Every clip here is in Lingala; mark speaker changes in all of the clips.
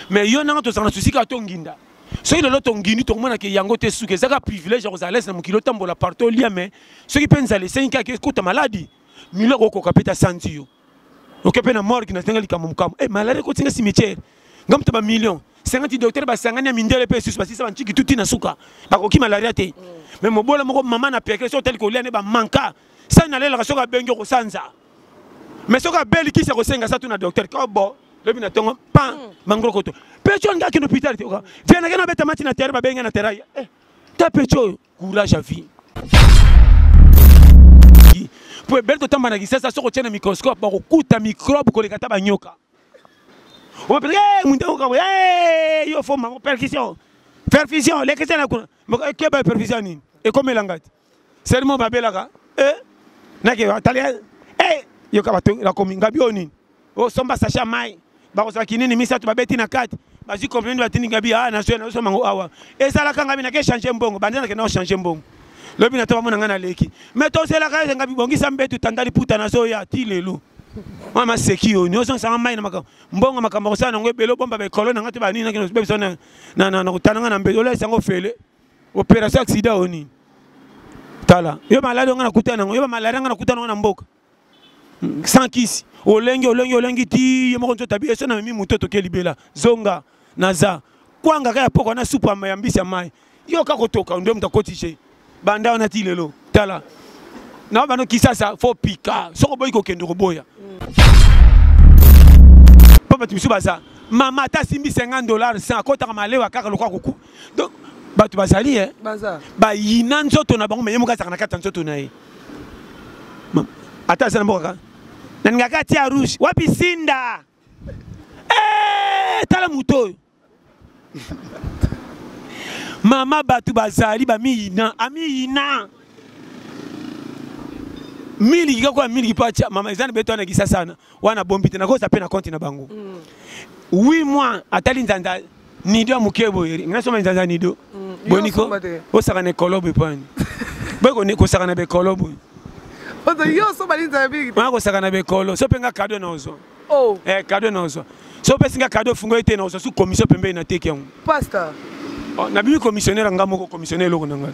Speaker 1: mais yo nanga tozala na susi kaka tonginda soki lelo tongindi tokomona ke yango te suki ezaka privilège ya kozala lese na mokili otambola partout olia me soki mpe nzala esengi kaka ekota maladi milo okokoka mpe tasanzi yo oke mpe na morgue nasenga likambo mokambo e eh, maladi ekotinga cimetière nga moto bamillion sengati docteur basangani ya mindele mpe esusu basisa banciki tuti na suka bakoki malaria te me mobola moko mama na piakele soki otali kolia nde bamanka sani nalelaka soki abengi okosanza mais soki abeli kisi akosenga sa tuna docteur kobo lobi na ntongo pa hmm. mangrokoto pecho olingi akende hôpital te vianake na obeta mati na terre babengi na terre aya eh, ta pecho oyo courage ya vie mpo ebele totamba na kisasa soki otye na microscope bakokuta microbe koleka ata banyoka opeleke eh, mundekokaboye eh, yo fo mango perfusion perfusion lekesana kuna ekeba perfusion nini ekomela ngai te sermo babelaka eh, nake atali eh, yoka bato nakomi ngabi oyo nini osomba sache ya mai bakozwa kinini misato babeti na kati bazwi kompleni batindi ngabi a ah, nazwi nazosomba yango awa ezalaka ngabi nake change mbongo bande nake nao change mbongo lobi na to bamona ngai naleki me tozelaka ete ngabi bongisa mbetu tanda liputa nazoya ti lelo mwa maseki oyo nyonso nsanga mai na makambo mbongo makambo akosala nango ebele obomba baekolo na ngai te banini nakobebisa na kotana ngai na mbetu olaisa yango ofele operation ya sida oyo nini tala yo maladi onga nakutana yango yo bamaladi anga nakutana yango na mboka sans kisi olengi olengi olengi ti ye moko nzoto abi eso na memi moto toke libela zonga naza kwanga kaka ya poko na supu ya mbisi ya mai yo kaka kotoka nde moto akoti je banda wana ti lelo tala na bano kisasa fo pika soki oboyi kokende koboya mpo bato mosusu baza mama ata asimbi 50 dollars 100 akotaka malewa kaka lokola kuku donc bato bazali e bayina nzoto na bango me ye moko azalaka na kati ya nzoto na ye ata aza na mboka kaka nalinga kati ya rouge wapi sinda eh, tala moto oyo mama bato bazali bamiyina amiyina miliki kaka oya miliki mpo atya mama eza na beto wana kisasa wana wana bombi te nakosa mpe na konti na bango 8 mm. mois atali nzanza nido ya moke boye ngai soma nzanza nido mm, boniko osaka na ekolo boye pani boye kosaka na bekolo boye maa kosaka na bekolo so mpe nga kado na ozwa oh. eh, kado na ozwa so opesi nga kado fungo ete na ozwa su commission pembeni na teki yango oh, nabimi commissionnaire nga moko commissionnaire eloko na ngai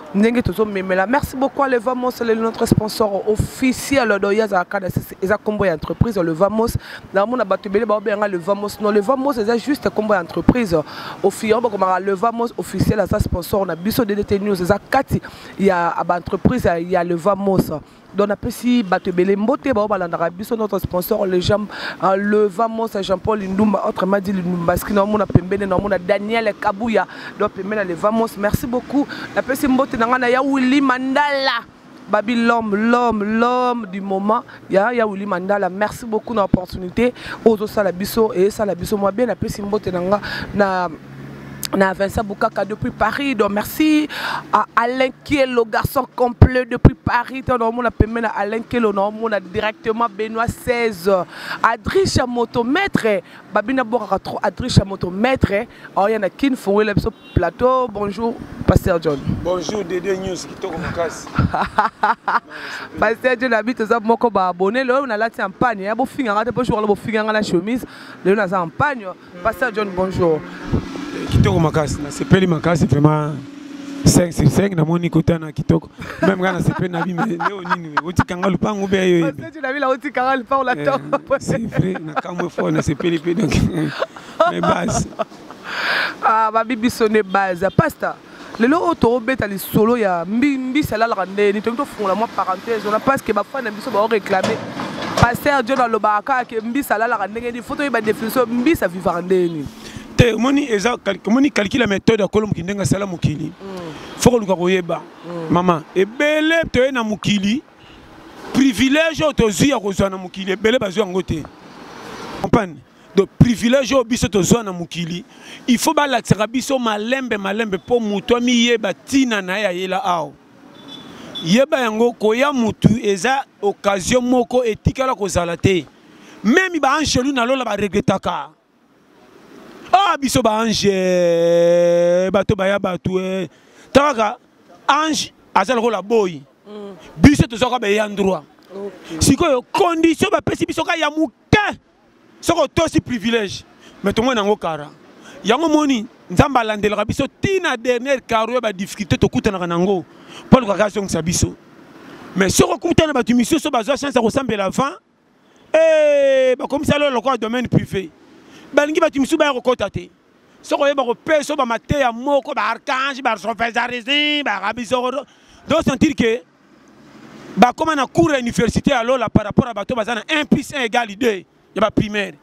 Speaker 2: ndenge tozomemela merci beaucoup le vamos le notre sponsor officiel do ye azalaka na sisi eza nkombo ya entreprise le vamos namona bato ebele baobeyanga le vamos non le vamos eza juste nkombo ya entreprise ofi yango bakomaka le vamos officiel aza sponsor na biso ddt news eza kati ya baentreprise ya le vamos donc napesi bato ebele mbote bao balandaka biso notre sponsor le jean euh, le vamos jean paul ndumba autrement dit lumbaski naomona pembene naomona daniel kabuya donc pembeni ya le vamos merci beaucoup napesi mbote na ngai na ya willi mandala babi l'homme l'homme l'homme du moment ya ya willi mandala merci beaucoup na opportunité oyo ozosala biso eyesala biso mwa bien napesi mbote na nga na na Vincent Bukaka depuis Paris donc merci à Alain Kielo garçon complet depuis Paris tant on a pemé na Alain Kielo na on a directement Benoît 16 Adricha moto maître babina bokaka trop Adricha moto maître oh ya na kin fongo la biso plateau bonjour pasteur John bonjour Dédé News
Speaker 1: kitoko makasi pasteur
Speaker 2: John habite za moko ba abonné le na lati en panne ya bo finga ngate po jour bo finga ngala chemise le na za en panne Pasteur John, bonjour. Kitoko
Speaker 1: makasi, na sepeli makasi vraiment 5 sur 5 namoni kota na kitoko meme nga nasepeli na bime leo nini otikanga lupangu mpe yo c'est vrai nakamwe fort nasepeli mpe donc mais base ah,
Speaker 2: babi biso nde base pasta lelo oyo tokobeta lisolo ya mbisi alalaka ndenge nini tolingi tofungola mwa parenthèse wana parce que bafani na biso baoreklame paster john alobaka kaka ke mbisi alalaka ndenge nini fo toyeba définition mbisi avivaka ndenge nini te omoni eza
Speaker 1: omoni calcul ya méthode ya kolo mokili ndenge asala mokili mm. fo koluka koyeba mm. mama ebele toye na mokili privilège oyo tozwi ya kozwa na mokili ebele bazwi yango te comprendre donc privilège oyo biso tozwa na mokili il faut balakisaka biso malembe malembe mpo moto amiyeba ntina na ye ayela awa yeba yango koya motu eza occasion moko etikala kozala te meme baangelu na lola baregretaka ah biso baange eh, bato baya bato eh. takaka ange aza lokola boyi mm. biso tozwaka baye ya ndroit sikoyo condition bapesi biso ka ya moke soki otosi privilège mais tomoni yango kara yango moni nzambe alandelaka biso ti na dernière caro ya badifficulté tokutanaka na yango mpo alukaka azongisa biso mais soki okuta na bato misusu bazwa chance ya kosambela avant eh, bakomisa lolo lokola domaine privé balingi bato misusu baya kokɔta te soki oyeba kopesa bamateya moko baarchange barofesarisme barabisoro do sentir ke bakoma na cours ya université ya lola par rapport ya bato baza na 1 plus 1 égal 2 ya baprimaire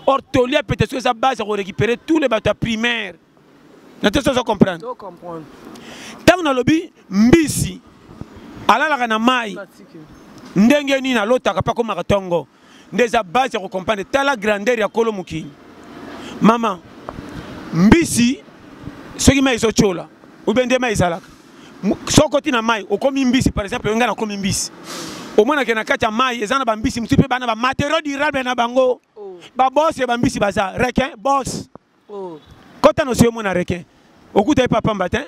Speaker 1: or toli ya peteso eza base ya korécupere tous les bato ya primaire na te sozo comprendre ntango nalobi mbisi alalaka na mai ndenge nini alotaka mpe akomaka ntongo nde eza base ya kocomprendre tala grandeur ya kolo mokili mama mbisi soki mai ezotyola obe nde mai ezalaka soki oti na mai okomi mbisi par exemple oyongai nakomi mbisi omonake na kati ya mai eza na bambisi mosusu mpe bana bamateriau durable na bango oh. babose bambisi baza requin bose oh. kota nosi yo mona requin okuta ye papa mbatin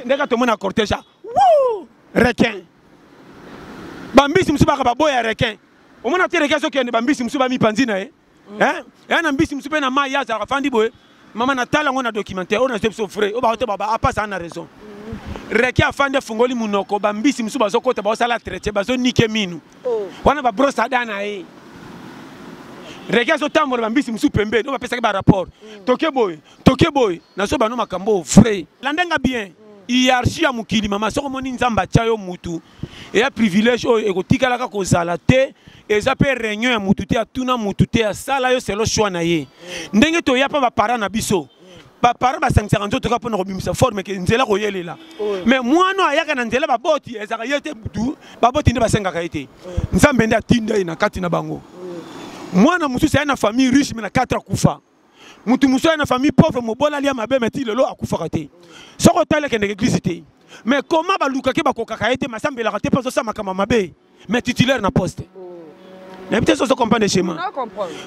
Speaker 1: ndeka tomona cortège a requin bambisi mosusu baka baboya requin omona te requin azokende bambisi mosusu bamipanzi na ye mm. eh? ya na mbisi mosusu mpe na mai ye azalaka fandi boye mama natala yango na documentaire oyo nazwi biso frais oyo bakote baba apasa ah, na raison mm. requin afandi afungoli monoko bambisi mosusu bazokota baosala traite bazonike minu oh. wana ba brosse à dents na ye rege azotambola bambisi mosusu pembeni oyo bapesaki barapport mm. toke boye toke boye nazo bano makambo oyo vrai landanga bien mm. hiérarchie ya mokili mama soki omoni nzambe atya yo mutu eya privilège oyo ekotikalaka kozala te eza mpe réunion ya mutu te atuna mutu te asala yo selo choix na ye mm. ndenge toya mpa baparent na biso baparent basangisaka nzoto kaka mpona kobimisa forme ke nzela koyelela mais mwana ayaka na nzela baboti ezalaka ye te butu baboti nde basengaka ye te nzambe nde atinda ye na kati na bango mwana mosusu aya na famille riche me na 4 akufa motu mosusu aya na famille pauvre mobola alia mabe me ti lelo akufaka te soki otali akendeke eglise te mais koma balukaki bakokaka ye te masambelaka te mpo azosala makambo mabe mais titulaire na poste nayebi te soso comprendre schéma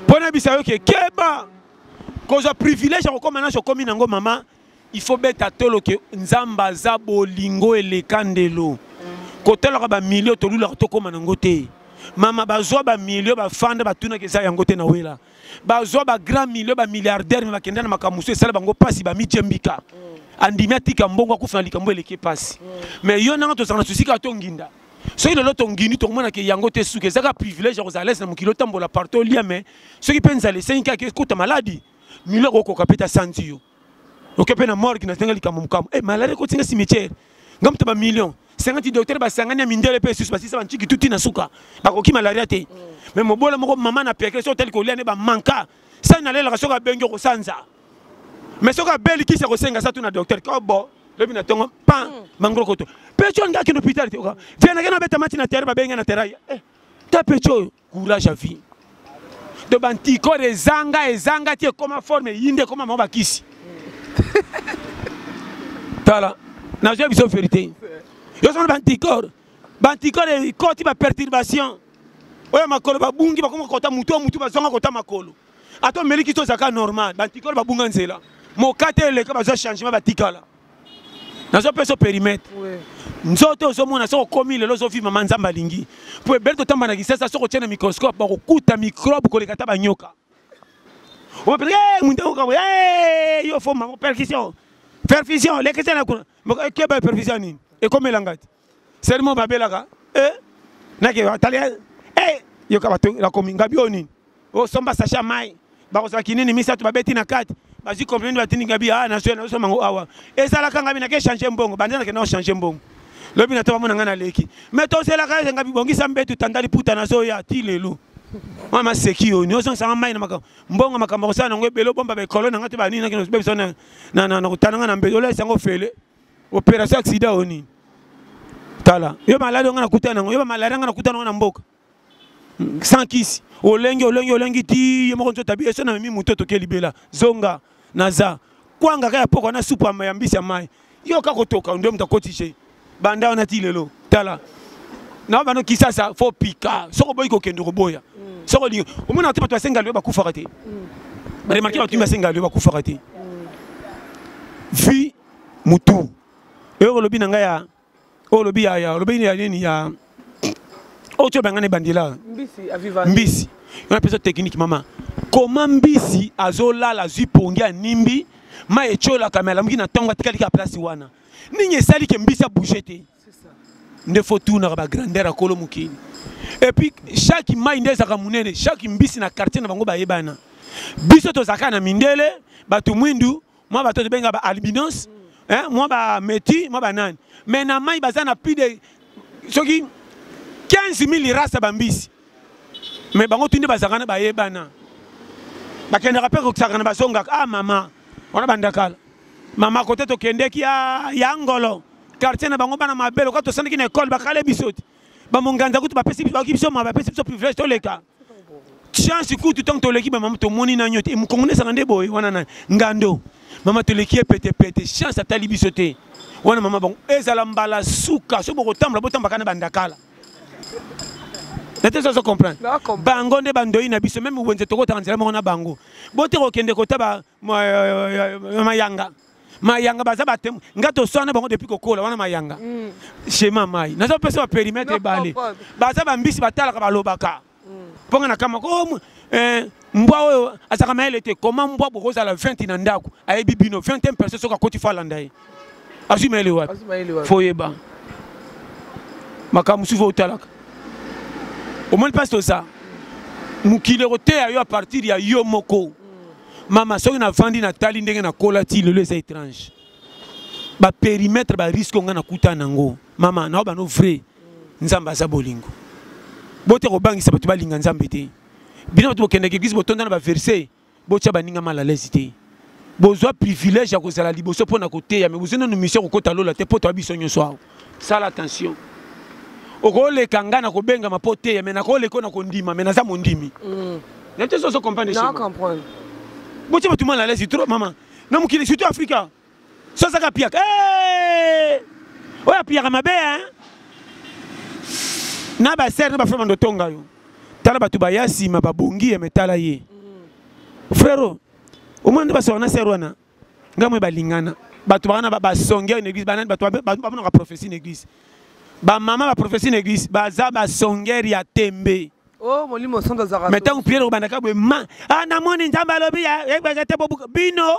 Speaker 1: mpo nayebisa
Speaker 2: yo ke
Speaker 1: keba kozwa privilège ya kokoma naso okomi nango mama il faut beta tolo ke nzambe aza bolingo eleka ndelo kotolaka bamilio tolulaka tokóma nango te mama bazwa bamilio bafanda batunaka eza yango te na wela bazwa bagrand milio bamilliardaire me bakenda na makambo mosusu esala bango mpasi bamityembika andimi atika mbongo akufa na likambo eleki mpasi me yo nanga tozala na susi kaka tonginda soki lelo tongini tokomona ke yango te suka ezaka privilège ya kozala lese na mokili otambola partout olia me soki mpe nzala esengi kaka ekota maladi milo okokoka mpe tasanzi yo oke mpe na morgue na senga likambo mokambo e eh, maladi ekotinga cimetière nga moto bamillion sengati docteur basangani ya mindele mpe esusu basisa banciki tuti na suka bakoki malaria te me mobola moko mama na pekele soki otali kolia nde bamanka sani nalelaka soki abengi okosanza mais soki abeli kisi akosenga sa tuna docteur kobo lobi na tongo pan hmm. mangrokoto pecho nga kino hôpital te oka via na kena beta mati na terre babenga na terre eh ta pecho courage à vie de bantiko ezanga ezanga ti ekoma forme yinde ekoma mwa bakisi tala nazwa biso verité yo sona bantikor bantikor ekoti baperturbation oyo makolo babungi bakoma kota motu ya motu bazonga kota makolo ata omeli kisi ozalaka normal bantikolo babunga nzela mokate eleka bazwa changement batikala nazo mpe so perimetre nzoto ozomona soki okomi lelo ozovi mama nzambe alingi mpo ebele totamba na kisasa soki otye na microscope bakokuta microbe koleka ata banyoka omapesa eh, mundaokaboy eh, yo fo mama perfusion perfusion lekisa na kuna keba perfusion nini ekomelanga te sermo babelaka eh, nake batali eh, yoka bato nakomi ngabi oyo nini osomba sache ya mai bakozwa kinini misato babeti na kati bazwi kompleni batindi ngabi a ah, nazwi nazosomba yango awa ezalaka ngabi nake change mbongo banda nake nao change mbongo lobi na to bamona ngai naleki me tozelaka ete ngabi bongisa mbetu tanda liputa nazoya ti lelo mwa maseki oyo nyozongisanga mai na makambo mbongo makambo akosala nango ebele obomba baekolo na ngai te banini nakobebisa na kotana ngai na mbetu olesa yango ofele operation accident oyo nini tala yo maladi onga nakutana yango yo bamaladi anga nakutana yango na mboka sans kisi olengi olengi olengi ti ye moko nzotabi eso na memi moto toke libela zonga naza kwanga kaka ya poko na supu ya mbisi ya mai yo kaka kotoka nde moto akoti je banda wana ti lelo tala na bano kisasa fo pika soki oboyi kokende koboya mm. soki olingi omonaka te bato basenga lio bakufaka te mm. baremarke bato basengaka lio bakufaka te mm. vie mutu oyo olobi na ngai ya oyo olobi ya ya olobi ya nini ya oyo tyo bangana ebandela mbisi aviva
Speaker 2: mbisi yo na pesa
Speaker 1: technique mama koma mbisi azolala azwi pongi ya nimbi ma etyolaka me alamuki na ntongo atikali ka place wana nini esali ke mbisi abouge te nde fo tunaka bagrandeur ya kolo mokili epuis chaque mai nde ezalaka monene chaque mbisi na quartier na bango bayebana biso tozalaka na mindele bato mwindu mwa bato tobenga ba albinos hein, mwa ba meti mwa banani mais na mai baza na plus de soki 15 000 race ya bambisi mais bango tuni bazalaka na bayebana bakendaka mpe kokisaka na bazongaka ah mama wana bandakala mama kote tokendeki ya ngolo quartier na bango bana mabe lokola tosandaki na ekole bakale biso te bamonganza kutu bapesi biso ma bapesi biso privilège toleka chance kutu ntango toleki bamama tomoni na nyote mokongo nesanga nde boye wana na ngando mama toleki ye petepete chance atali biso te wana mama bango ezala mbala suka soki bokotambola botambaka na bandakala nete sozo comprendre bango nde bandoyi na biso meme wenze tokotaka nzela moko na bango bote kokende kota euh, euh, euh, mayanga mayanga baza batemwe nga toswana na bango depuis kokola wana mayanga mm. shema mai naza kopesa baperimetre ebale baza bambisi batalaka balobaka mm. mpo nga na kamaka oh, eh, mbwa oyo azalaka mayele te koma mbwa bokozala 20 na ndako ayebi bino 21 personne soki akoti fo alanda ye azwi mayele wapi fo oyeba makambo mosusu fo otalaka omoni mpasi toza mokili ekoteya yo a partir ya yo moko mama soki navandi natali ndenge nakola ti lelo eza étrange baperimetre bariske ngai nakuta nango mama nao bano vrai nzambe aza bolingo bote kobangisa bato balinga nzambe te bino bato bokendeke eglise botonda na baverse botya baninga mal alaise te bozwa privilège ya kozala liboso mpo na koteya me bozwi nanu mission kokota lola te mpo toya biso nyonso awa sala attention okoleka ngai na kobengama mpo oteya me nakoleka oyo na kondima me naza mondimi mm. nayo te soso comprendre
Speaker 2: botye bato
Speaker 1: mal alaise trop mama na mokili surtout afrika so azaka apiaka eh! oyo apiyaka mabe hein na basere na bafrema ndotonga yo tala bato baya nsima babongi ya metala ye mm. frero omona nde basoka na sere wana ngai moye balingana bato bakana basongeur na église banani bato bamonaka prophétie na église bamama baprofesi na église baza basongere ya tembe oh, molimo
Speaker 2: santo azaka me ntango priere kobandaka boye
Speaker 1: ma ah, namoni nzambe alobi ebeke te bobuka bino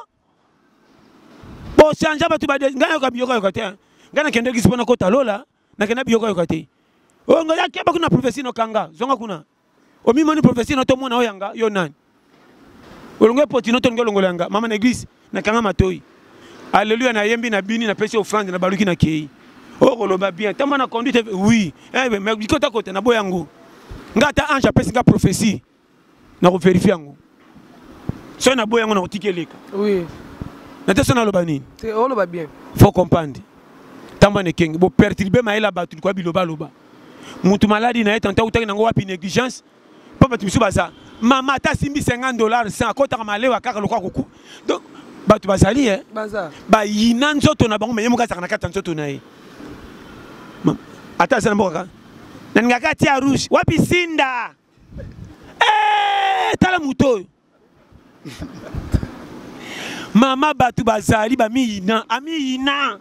Speaker 1: bochange bato bade ngai nayoka biyokayoka te ngai nakende église mpo nakota lola nakenda biyokayoka te oyo oh, ngai akeba kuna profesi nokanga zonga kuna omimoni prophetie na to mona oyanga yo nani olongo epoti no tolingi olongola yanga mama na eglise nakanga matoi alleluya nayembi na bini napesi ofrande na baluki na kei okoloba oh, bien ntango na conduite oui eh, mais likota kota na boya yango ngai ata ange apesi ngai prophetie nakoverifie yango soki na boya yango nakotika eleka oui.
Speaker 2: na te so
Speaker 1: naloba nini oloba bien
Speaker 2: faut comprendre
Speaker 1: ntango na ekenge boperturbe mayele ya bato likoya bilobaloba mutu maladi na ye tante autaki nango wapi négligence mpo bato mosusu baza mama ata asimbi 50 dollars sans akotaka malewa kaka lokola kuku donc bato bazali e
Speaker 2: bayina
Speaker 1: nzoto na bango me ye moko azalaka na kati ya nzoto na ye ata aza na mboka kaka nalingaka atia rouge wapi sinda eh, tala moto oyo mama bato bazali bamiyina amiyina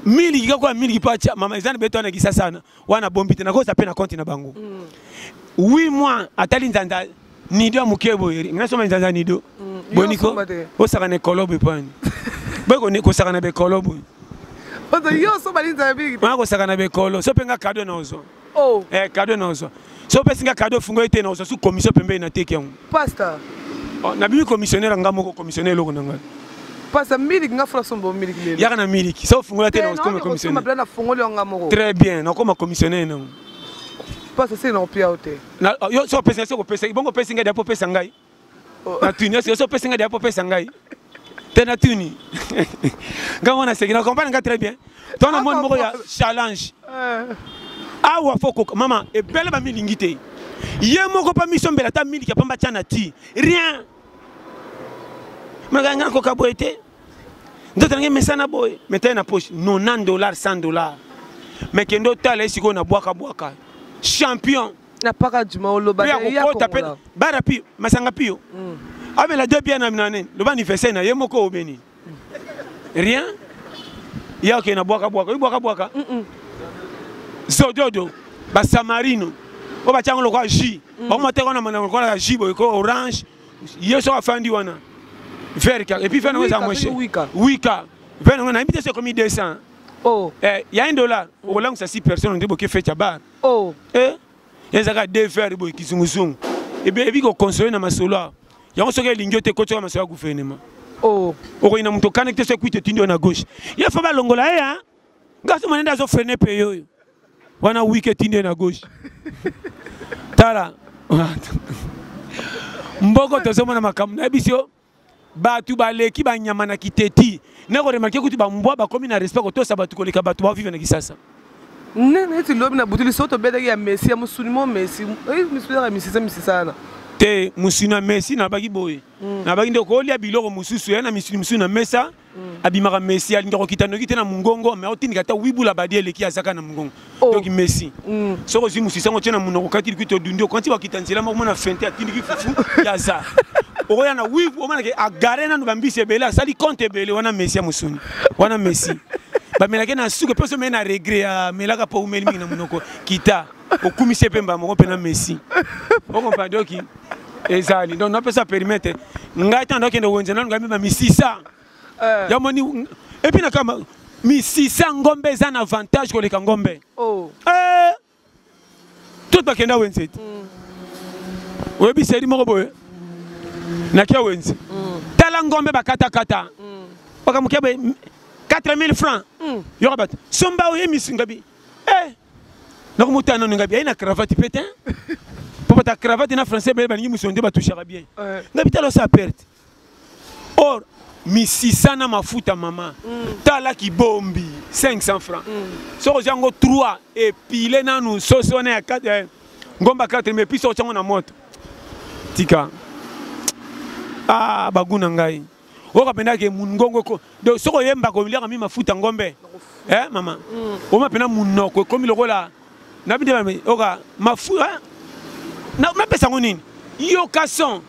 Speaker 1: mingi kaka kwa mingi mpo atya mama eza na beto wana kisa sana wana bombi te nakosa mpe na konti na bango mm. oui moi atali nzanza nido ya moke boye ngai nasomba nzanza nido mm. boniko osaka na ekolo boye mpo ani boye kosaka na bekolo boye ozali
Speaker 2: yo oso balinzala mingi te wana kosaka na bekolo
Speaker 1: so mpe nga kado na ozwa oh. eh, kado naozwa so opesi nga kado fungo ete naozwa su commission pembeni nateki yango pasta
Speaker 2: oh, nabimi
Speaker 1: commissionnaire anga moko commissionnaire eloko na ngai pasa
Speaker 2: miliki nga fula sombo miliki lelo yaka na miliki so ofungola
Speaker 1: te nakoma commissionnaire nafungoli yanga moko
Speaker 2: très bien nakoma
Speaker 1: commissionnaire nango pasa
Speaker 2: sili nakopia yo te oh, yo so opesi
Speaker 1: nga soko opesa bongo opesi ngai dapo opesa ngai na tuni esi oso pesa ngai dia po pesa ngai te na tuni ngai wana seki na comprendre ngai très bien to na moni moko ya challenge eh. awa fo koka mama ebele bamilingi te ye moko mpa misombela ata miliki ya pamba tya na ti rien maka ngai nakoka boye te nzoto nange mesana boye metai na poche 90 dollar 100 dollar me kende otala ye sikoyo na bwakabwaka champion na paka
Speaker 2: djuma oloba ya kokota pe bara pi
Speaker 1: masanga pio mm. amela deux bien na nani loba anniversaire na ye moko obeni rien ya ke na bwaka bwaka yo bwaka bwaka zododo ba samarino oyo batya yango lokola jus mm. bango mateka wana mandango lokola ya jus boye ko orange ye soki afandi wana vere kaka epuis vere yango eza mweshe wika vere yango nayebi te soki ekomi 200 oh. eh,
Speaker 2: ya 1 dollar
Speaker 1: okolangwisa 6 personne nde boke fete ya bar oh.
Speaker 2: eh, eza
Speaker 1: kaka de fer boye kizunguzungu ebi kokonsole na masolo awa yango soki elingi yo te kotyaka masolo ya gouvernement oh.
Speaker 2: okoki na moto okani
Speaker 1: te soki kuite etindi yo na gauche ye fo balongola ye a gasi monende azofrene mpe yo oyo wana wiki etindi ye na gauche tala mboko tozomona makambo nayebisi yo bato baleki banyama na kiteti nako remarke kutu bambwa bakomi na respect kotosa bato koleka bato bavive na kisasa nde neti
Speaker 2: lobi na butu liso tobetaki ya messi ya mosuni mo messi eh, misuyaka misisa misisa wana te mosuni
Speaker 1: ya messi nabaki boye hmm. nabaki nde okolia biloko mosusu ya na misuni mosusu na mesa abimaka messi alingi kokita noki te na mongongo me otindika ata wibula badi eleki azaka na mongongo oh. donc messi mm. soki ozwi mosisi yango otye na monoko okati likito odundi okanti bakita nzela moko mona fente atindiki fufu ya aza okoya na wivu omonake agare nanu bambisi ebele asali compte ebele wana messi ya mosuni wana messi bamelaki na suka mpe osomei na regret amelaka mpo umeli mingi na monoko kita okumisi ye mpe mbala moko mpe na messi okompa doki ezali donc napesa perimetre ngai ntango nakende wenze nanu ngai mema misisa eh. yamoni epi na kama misisa ngombe eza na avantage koleka ngombe oh. eh. tout bakenda wenze te mm. oyebi seri moko boye nakia wenze mm. tala ngombe bakatakata mm. bakamokia boye 4000 francs yoka bato somba oye misingabi eh. nako motana nanu ngabi aye na cravate mpe te mpo bata cravate na français bele balingi mosolo nde batouchaka bien eh. ngabi tala osa perte or misisa na mafuta mama mm. tala kibombi 500 francs mm. soki ozwa yango 3 epile nanu sosi wana ya eh, ngomba 4 mais puis soki otya yango na moto tika ah bagu na ngai oka pena ke mungongo ko donc soko yemba ko liaka mi mafuta ngombe eh mama mm. oma pena munoko ekomi lokola na bide ba oka mafuta eh? na na pesa ngoni yo kason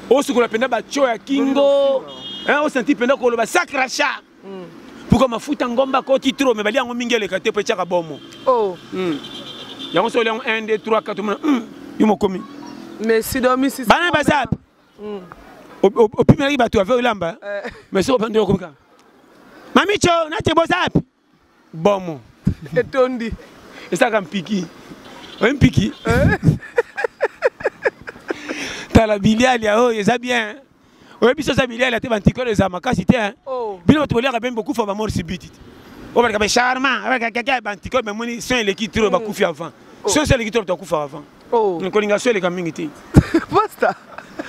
Speaker 1: osukola pena ba cho ya kingo eh o senti pena ko loba sacra cha mm. pourquoi mafuta ngomba ko ti trop mais bali yango mingi eleka te pe chaka bomo oh mm. yango so yango 1 2 3 4 mona mm. yo mokomi mais sidomisi
Speaker 2: bana bazapi
Speaker 1: mm. opimelaki bato ave olamba eh. mais soki opandeli okomika mamico nate boza api bomo etondi
Speaker 2: esalaka
Speaker 1: mpiki oye mpiki eh. tala bilialia oyo eza bien oyebi biso oza bilialia te bantikolo eza makasi te oh. bino bato boliaka bembe bokufa bamor sibiti te obalaka be charma abalaka kaka bantikolo bamoni son eleki tro bakufi avant oh. son so eleki tro tokufaka avant oh. kolinga so eleka mingi te pasta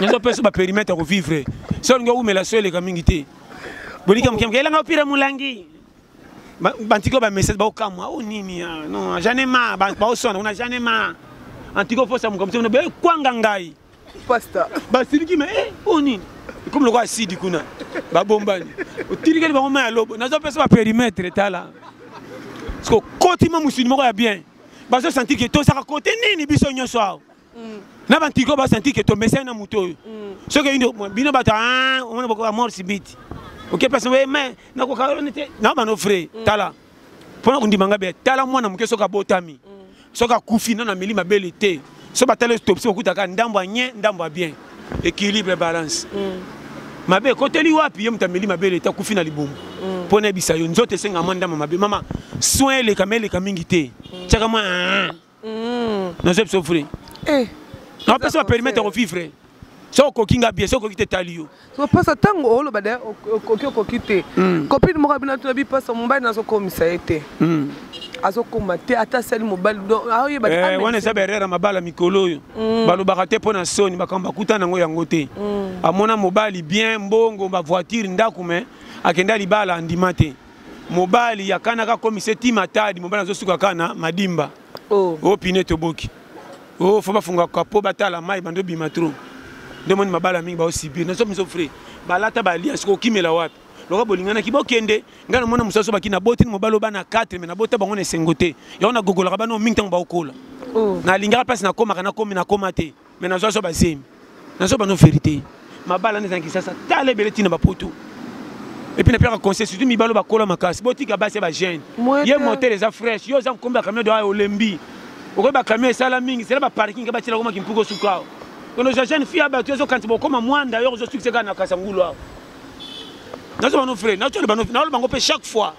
Speaker 2: nazopesa
Speaker 1: baperimetre ya kovivre so olingi owumela so eleka mingi te bolika moke moke elanga opira molangi bantiko bamessage baokamwa o oh, nini ah, non jane ma baoswana kuna jane ma antiko oposa mokambo te eh, kwanga ngai pasta
Speaker 2: basiliki me
Speaker 1: eh, o oh, nini ekomi lokola asidi kuna babombani otilikeli bango mai ya lobo nazopesa baperimetre tala sikokotima mosuni moko ya bien bazo sentir que tozaka kote nini biso nyonso awa mm. na bantiki oyo basentir que tomesani na moto oyo mm. soki eyindi bino bato ah, omona bokoka mort sibiti oke place oye mai nakokaone te na bano frai mm. tala mpo na kondima ngai be tala mwana moke soki abotami soki akufi nano ameli mabele te so batali autopsie okutaka ndambo ya nye ndambo ya bien équilibre balance mm. mabe ekoteli wapi ye moto ameli mabe leta akufi na libumu mm. mpo nayebisa yo nzoto esenga mwa ndambo mabe mama soin eleka ma eleka mingi te mm. tiaka mwa nazoyebisa ofre eh. napesa baperimetre ya kovivre soki okoki nga bie soki okoki te etali yo bipasa ntango
Speaker 2: oloba de okoki okoki te hmm. copine moko abina tuna bipasa mobali nazokomisa ye te hmm. azokoma te ata asali mobali eh, wana eza baerreur ya mabala
Speaker 1: mikolo oyo hmm. balobaka te mpo na soni makambo bakuta nango yango te amona mobali bien mbongo bavoiture ndako me akenda libala andima te mobali akanaka akomisa eti matadi mobali azosuka kaka na madimba oh. oh pine toboki oh faut bafunga kapo batala mai bando bima trop nde moni mabala mingi baosibir nazo miso frais balata balia siko okimela wapi loka bolinganaki bokende ngai namona mosusu baki naboti ni mobali obana 4 me nabota bango na esengo te yango nagogolaka bana mingi ntango baokola oh. nalingaka mpasi nakomaka nakomi nakoma te mais nazo azo bazemi nazo bano verité mabala nde ezalaki sasa tala ebele ntina bapoto epuis napiyaka conseil surtout mibalo bakola makasi botika basi ya bajeune ye motel eza fraîche yo oza mokombi ya camion doa olembi okoki bacamion esala mingi zela baparking ke batyela komaki mpuku osuka awa kono oza jeune fille ya bato ezokanisa bokoma mwanda yo ozosukisa kaka na kasangulu awa nazo bano fre naoloba yango mpe chaque fois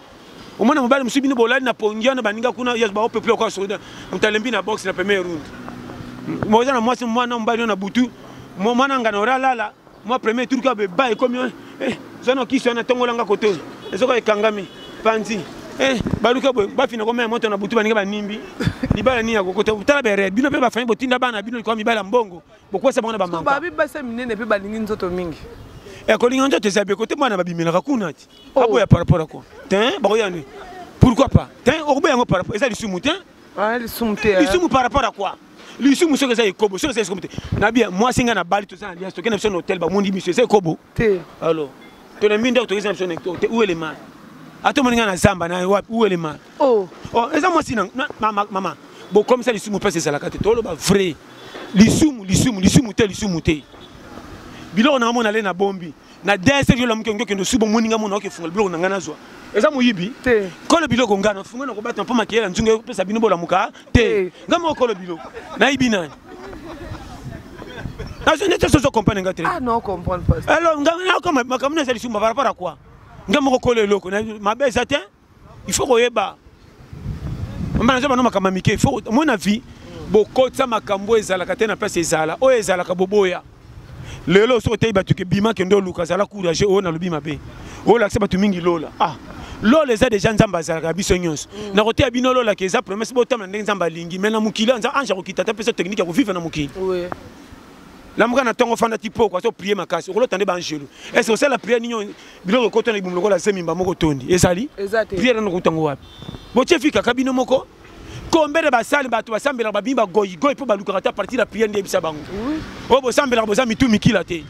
Speaker 1: omona mobali mosusu bino bolali na pongi wana baninga kuna yes baopeple okoa soda moto alembi na boxe na premier round moza na mwasi mwana mobali yo na butu mwana ngana ora alala mwa premier tour ka beba ekomi eh, zana kisi wana tongolanga koto ezoka ekangami panzi eh, baluka boye bafina komela moto na butu baninga banimbi libala nini yakokota tala bere bino mpe bafami botinda bana bino likoma mibala mbongo bokwesa bango na bamababibasa minene mpe
Speaker 2: balingi nzoto mingi ekolinga eh, nzoto
Speaker 1: eza beko te mwana babimelaka kuna ti oh. aboya par rapport ako te bakoya nini pourquoi pas te okoboya yango par rapport eza lisumu te ah, lisumu te lisumu par rapport à quoi lisumu soki eza ekobo soki eza ekobo te nabiya mwasi ngai na bali toza na alliance tokenda biso na hotel bamondi biso eza ekobo te alors tolembi ndako tokeza na biso na te où est le mal ata omoni ngai na zamba na wapi où est le mal oh. oh eza mwasi na mama bokomisa lisumu mpasi ezalaka te toloba vrai lisumu lisumu lisumu te lisumu te biloko na omona le na bombi na dsf yo lamuki ongi okende osuba omoni ngai mona okefungola biloko na ngai nazwa eza moyibi te kolo biloko
Speaker 2: ngai nafungola
Speaker 1: na kobata mpo makeyela nzungu epesa bino bolamuka te ngai moko kolo biloko nayibi nani nazo neti soso comprendre ngai te ah,
Speaker 2: alors ngai nakoma
Speaker 1: makambo na eza lisumu par rapport à quoi ngai moko kolo eloko mabe eza te il faut koyeba mama naza bana makambo ya mike faut moi na vie bokotisa makambo ezalaka te na place ezala oyo ezalaka boboya lelo soki oteyi bato ke bima kende oluka zala courage oyo nalobi mabe olakisa bato mingi lola ah lola eza deja nzambe azalaka ya biso nyonso mm. nakoteya bino lola ke eza promese botambola ndenge nzambe alingi mai na mokili anza ange akokita ata mpeso teknike ya kovivre na mokili
Speaker 2: lamuka
Speaker 1: na ntongo ofanda ti poko azo prie makasi okolota nde baangelu ese osala priere nini biloko ekota na libumu lokola zemi mbamoko otondi ezali priere nano kotango wapi botie fi kaka bino moko kombele basali bato basambelaka babimi bagoigoi mpo balukaka ata partir ya priere nde yebisa bango oyo bosambelaka boza mitu mikila te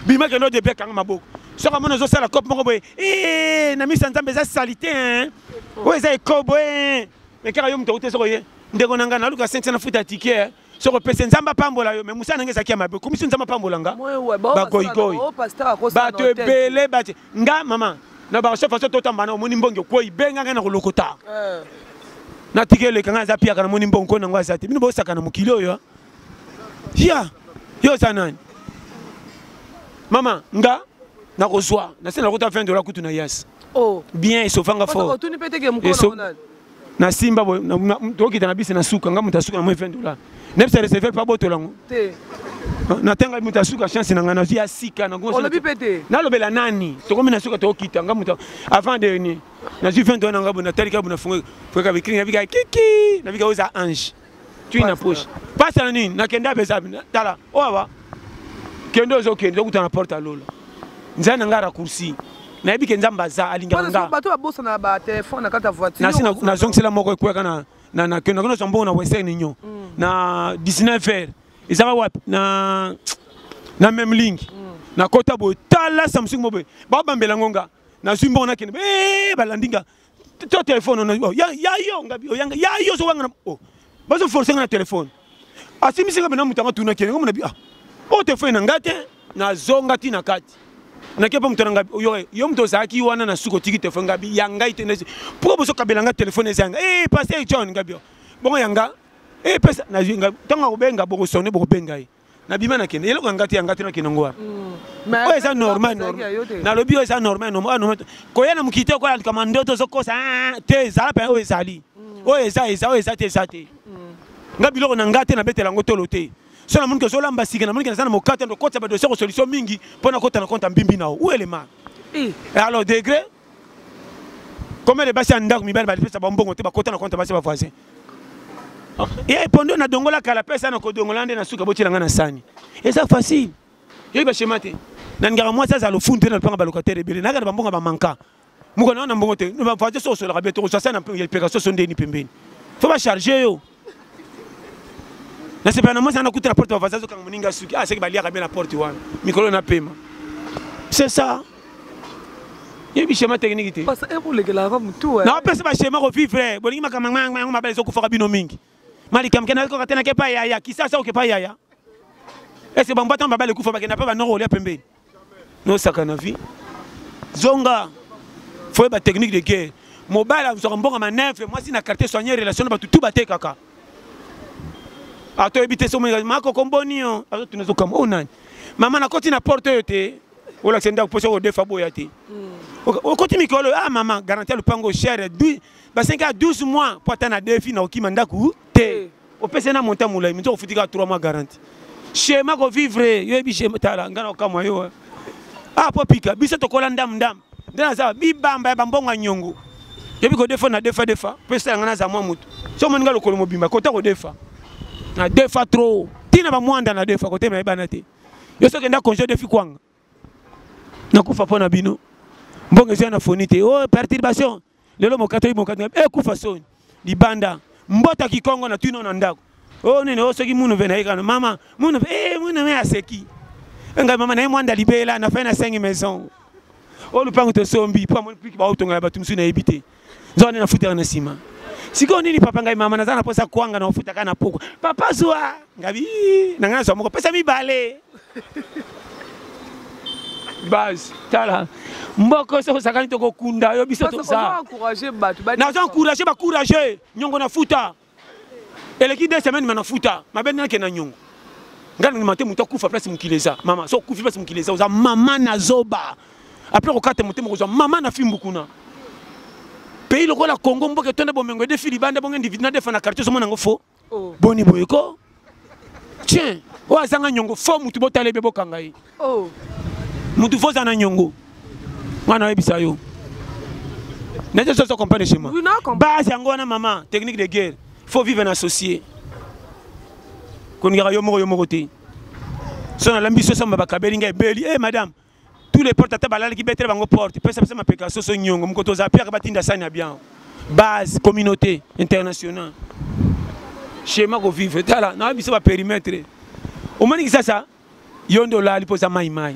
Speaker 1: bima kende odebi akanga maboko soki amoni ozosala cope moko boye eh, na miso ya nzambe eza salite oyo eza ekobo eh. mekaka yo moto akuti soki oye ndeko na ngai naluka sentia na futa tike eh. soko pese nzambe apambola yo me mosala na ngai ezalaki ya mabe okumisi nzambe apambola nga bagoigoi oh, bato ebele bati nga mama na baso faso totamba na omoni mbongi okwei benga ngai na kolokota eh. natika eleka ngai aza piaka namoni mbongi koi na yango aza te bino bosaka na mokili oyo ya yo oza nani mama nga nakozwa nase nakota 20 dola kutu na yas oh. bien esofanga fort na simba boye tokita na bisi na suka nga moto asuka na moi 20 dollar nebisa receveur mpe abotola yango natanga moto asuka chance na ngai nazwi ya sika nalobela nani tokomi na suka tokokita nga moto avant de ni nazwi 20 dollar na ngai boye natalika boye nafungaka bikringa bika kiki nabika oza ange tui na poche pasi na nini nakende apesa tala oyo oh, awa kende ozokende okuta na porte ya lola nzai na ngai raccourci nayebi ke nzambe aza alingabato babosana
Speaker 2: batelefone na kati ya voiturnasi nazongisela moko
Speaker 1: ekweyaka na kende nakende ozwa mbongo na western union mm. na 19 heure ezaka wapi na na meme lingi mm. nakota boye tala samsung moboye babambela ngo nga nazwi mbongo nakende eh, balandi nga to telefone ono oh, yayo ngabi oyanga oh, yayo ozowangana o oh, bazoforce nga na telefone asimbisi nga mena moto yango atunaki yango mona bi ah oyo telefone na ngai te nazonga ti na kati nake mpo moto na ngai oyoka yo moto ozalaki wana na suki otiki telefone ngabi ya ngai te nasi mpo bozokabela nga telefone eza yanga e eh, paster john ngabi bongo yanga epesa eh, nazwi nga ntango akobenga bokosone bokobenga ye nabima nakende eloko ya ngati ya ngati nakende ngo wapi hmm. oyo eza normal nalobi oyo eza normal normal koya na mokili te okoya kama ndoto ozokosa ah, ah, te ezala mpe oyo ezali hmm. oyo eza eza oyo eza te eza te hmm. nga biloko na nga te nabetela yango tolo te so namoniki ozolamba sika namoniki naza na mokate ndokotisa badosie kosolution mingi mpo nakota na konta mbimbi na o uelema eh. alors degré combien de basi ya ndako mibali balipesa bambongo te bakota na konte basi ba voisin ye ah. eh, pondo nadongola kala pesa na kodongola nde na suka botyela ngai na sani eza facile yoki bashema te nalingaka mwasi azala lofundu te na lopanga balocataire ebele nayaka na bambongo bamanka moko na yo na mbongo te voisin so osolaka bie tokozwa sa na peka soso ndeni pembeni fo bacharge yo nasepela na mwasi ana kuta na porte bavasi azokanga moninga suki ah seke baliaka mpe na porte wana mikolo na pema c'est ça yebi schéma technique
Speaker 2: te naopesa baschema
Speaker 1: kovivre bolingi makambo yango mabala ezokufaka bino mingi malikamke nakoka te nake pa yaya kisasa oke pa yaya ese bangbatama babala ekufa bakenda mpe banoko olia pembeni nosaka na vie zonga foye ba technique de guerre mobali azwaka mbongo maneve mwasi na quartier soigne relation na bato tu batekaka atoyebi te somo makoko mboni yo azotuna ezokamba oyo oh, nani mama nakoti na porte oyo te olakisa ndako mposa okodefa boya te hmm. okoti mikolo a ah, mama garanti ya lopango chere basengaka 12 mois mpo ata na defi na okima ndako te opesa ye na montant molai moto okofuti kaka 3 mois garanti shema kovivre yo yebi shema tala ngai nakokamwa yo ah mpo pika biso tokola ndam ndam nde naza bibamba ya bambongo ya nyongo yebi kodefa na defa defa mpe esala ngai naza mwa moto so omoni ngai lokolo mobimba kota kodefa na defa trop ntina bamwanda na defa kote mayebana te yo soki enda congé odefi kwanga nakufa mpo na bino mbongo ezwa na foni te o oh, perturbation lelo mokatoli mokatoli ekufa eh, soni libanda mbota kikongo na tino na ndako o oh, nini o oh, soki munu mpe nayekana mama munu mpe e eh, munu mpe aseki ngai mama naye mwanda libela na fai na sengi maison oyo lupango tosombi mpo amoni piki baotonga ya bato mosusu nayebi te zwa nde nafutaka na nsima sikoyo nini papa ngai mama naza na mposa kwanga na ofutaka na pokwa papa zwa ngabi na ngai nazwa moko pesa mibale base tala mboko soki osakani tokokunda yo biso toza
Speaker 2: naza encourage
Speaker 1: bacourage nyongo na futa eleki deux semaine mana futa mabe nde nakenda nyongo ngai nandima te moto akufa place mokili eza mama so okufi place mokili eza oza mama na zoba apres kokata motema kozwa mama na fimbu kuna pays lokola congo mboka etonda bomengo edefi libanda bongo individu nadefa na quartier ozomona yango fo oh. boni boye ko tien oyo azanga nyongo fo mutu botala ebe bokanga ye oh.
Speaker 2: mutu fo
Speaker 1: oza na nyongo ngai nayebisa yo nazo soso comprendre chez moi base yango wana mama technique de guerre faut vivre na associé koningaka yo moko yo moko te so nalambi soso mabakabeli ngai ebeli e eh, madame tous les portes ata balalaki betele bango porte pesa pesa mapeka soso nyongo mokoto oza piaka batinda sani ya biango base communauté internationale schéma kovivre tala na biso baperimetre omoni kisasa yo nde olali mpo oza maimai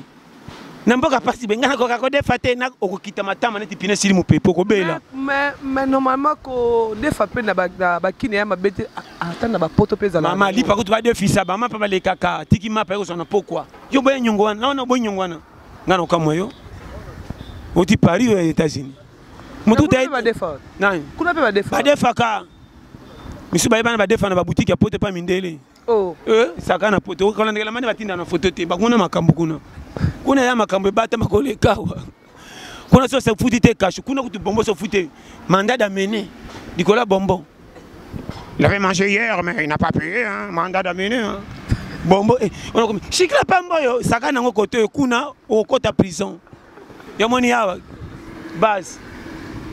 Speaker 1: na mboka pasi benga nakoka kodefa te okokita matama neti pine esili mopepe okobela mais
Speaker 2: normalement kodefa mpe na bakine ya mabe te ata na bapoto mpe ezalama lipa kutu badefisa
Speaker 1: bama mpe balekaka tiki mapa ekozwa na pokwa yo boya nyongo wana wana boyi nyongo wana nga na okamwa yo oti paris oyo ya états-unis motu badefaka misusu bayebana badefa na babutike ya poto epa mindele oh. eh,
Speaker 2: saka na poto
Speaker 1: okolandekela mani batinda na foto te bakuna makambo kuna kuna ya makambo ebatama kolekawa kuna so futi te kashu kuna kutu bombo so futi mandat d'amener likolo ya bombo il avait mangé hier mais il n'a pas payé hein, mandat d'amener hein. bombo eh, shikila pamba oyo saka nango kote oyo kuna okota prison yamoni awa base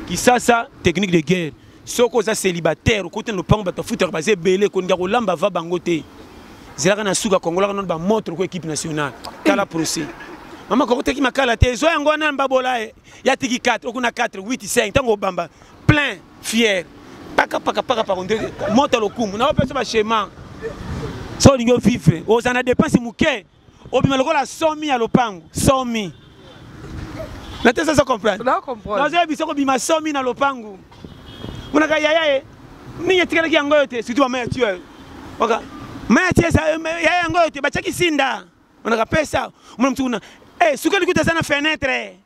Speaker 1: kisasa technique de guerre soki oza célibataire okoti na lopango bato afutaka baza ebele kolinga kolamba va bango te zelaka na suka kongolaka nono bamontre oko équipe nationale tala procès mama kokotaki makala te zwa yango wana mbabola eh. ya tiki 4 okuna 4 8 5 ntango obamba plein fier pakapakapakapako nde mota lokumu na opeso bachema so olingi ovivre ozala na dépense moke obima lokola somi ya lopango somi na te sasa comprendre nazoya biso
Speaker 2: kobima somi
Speaker 1: na lopango monaka yaya ye nini etikalaki yango oyo te surtout mama ya tio oka mama ya tio yaya yango oyo te batiaki sinda monaka pesa omona motu kuna eh, suka likuta aza na fenetre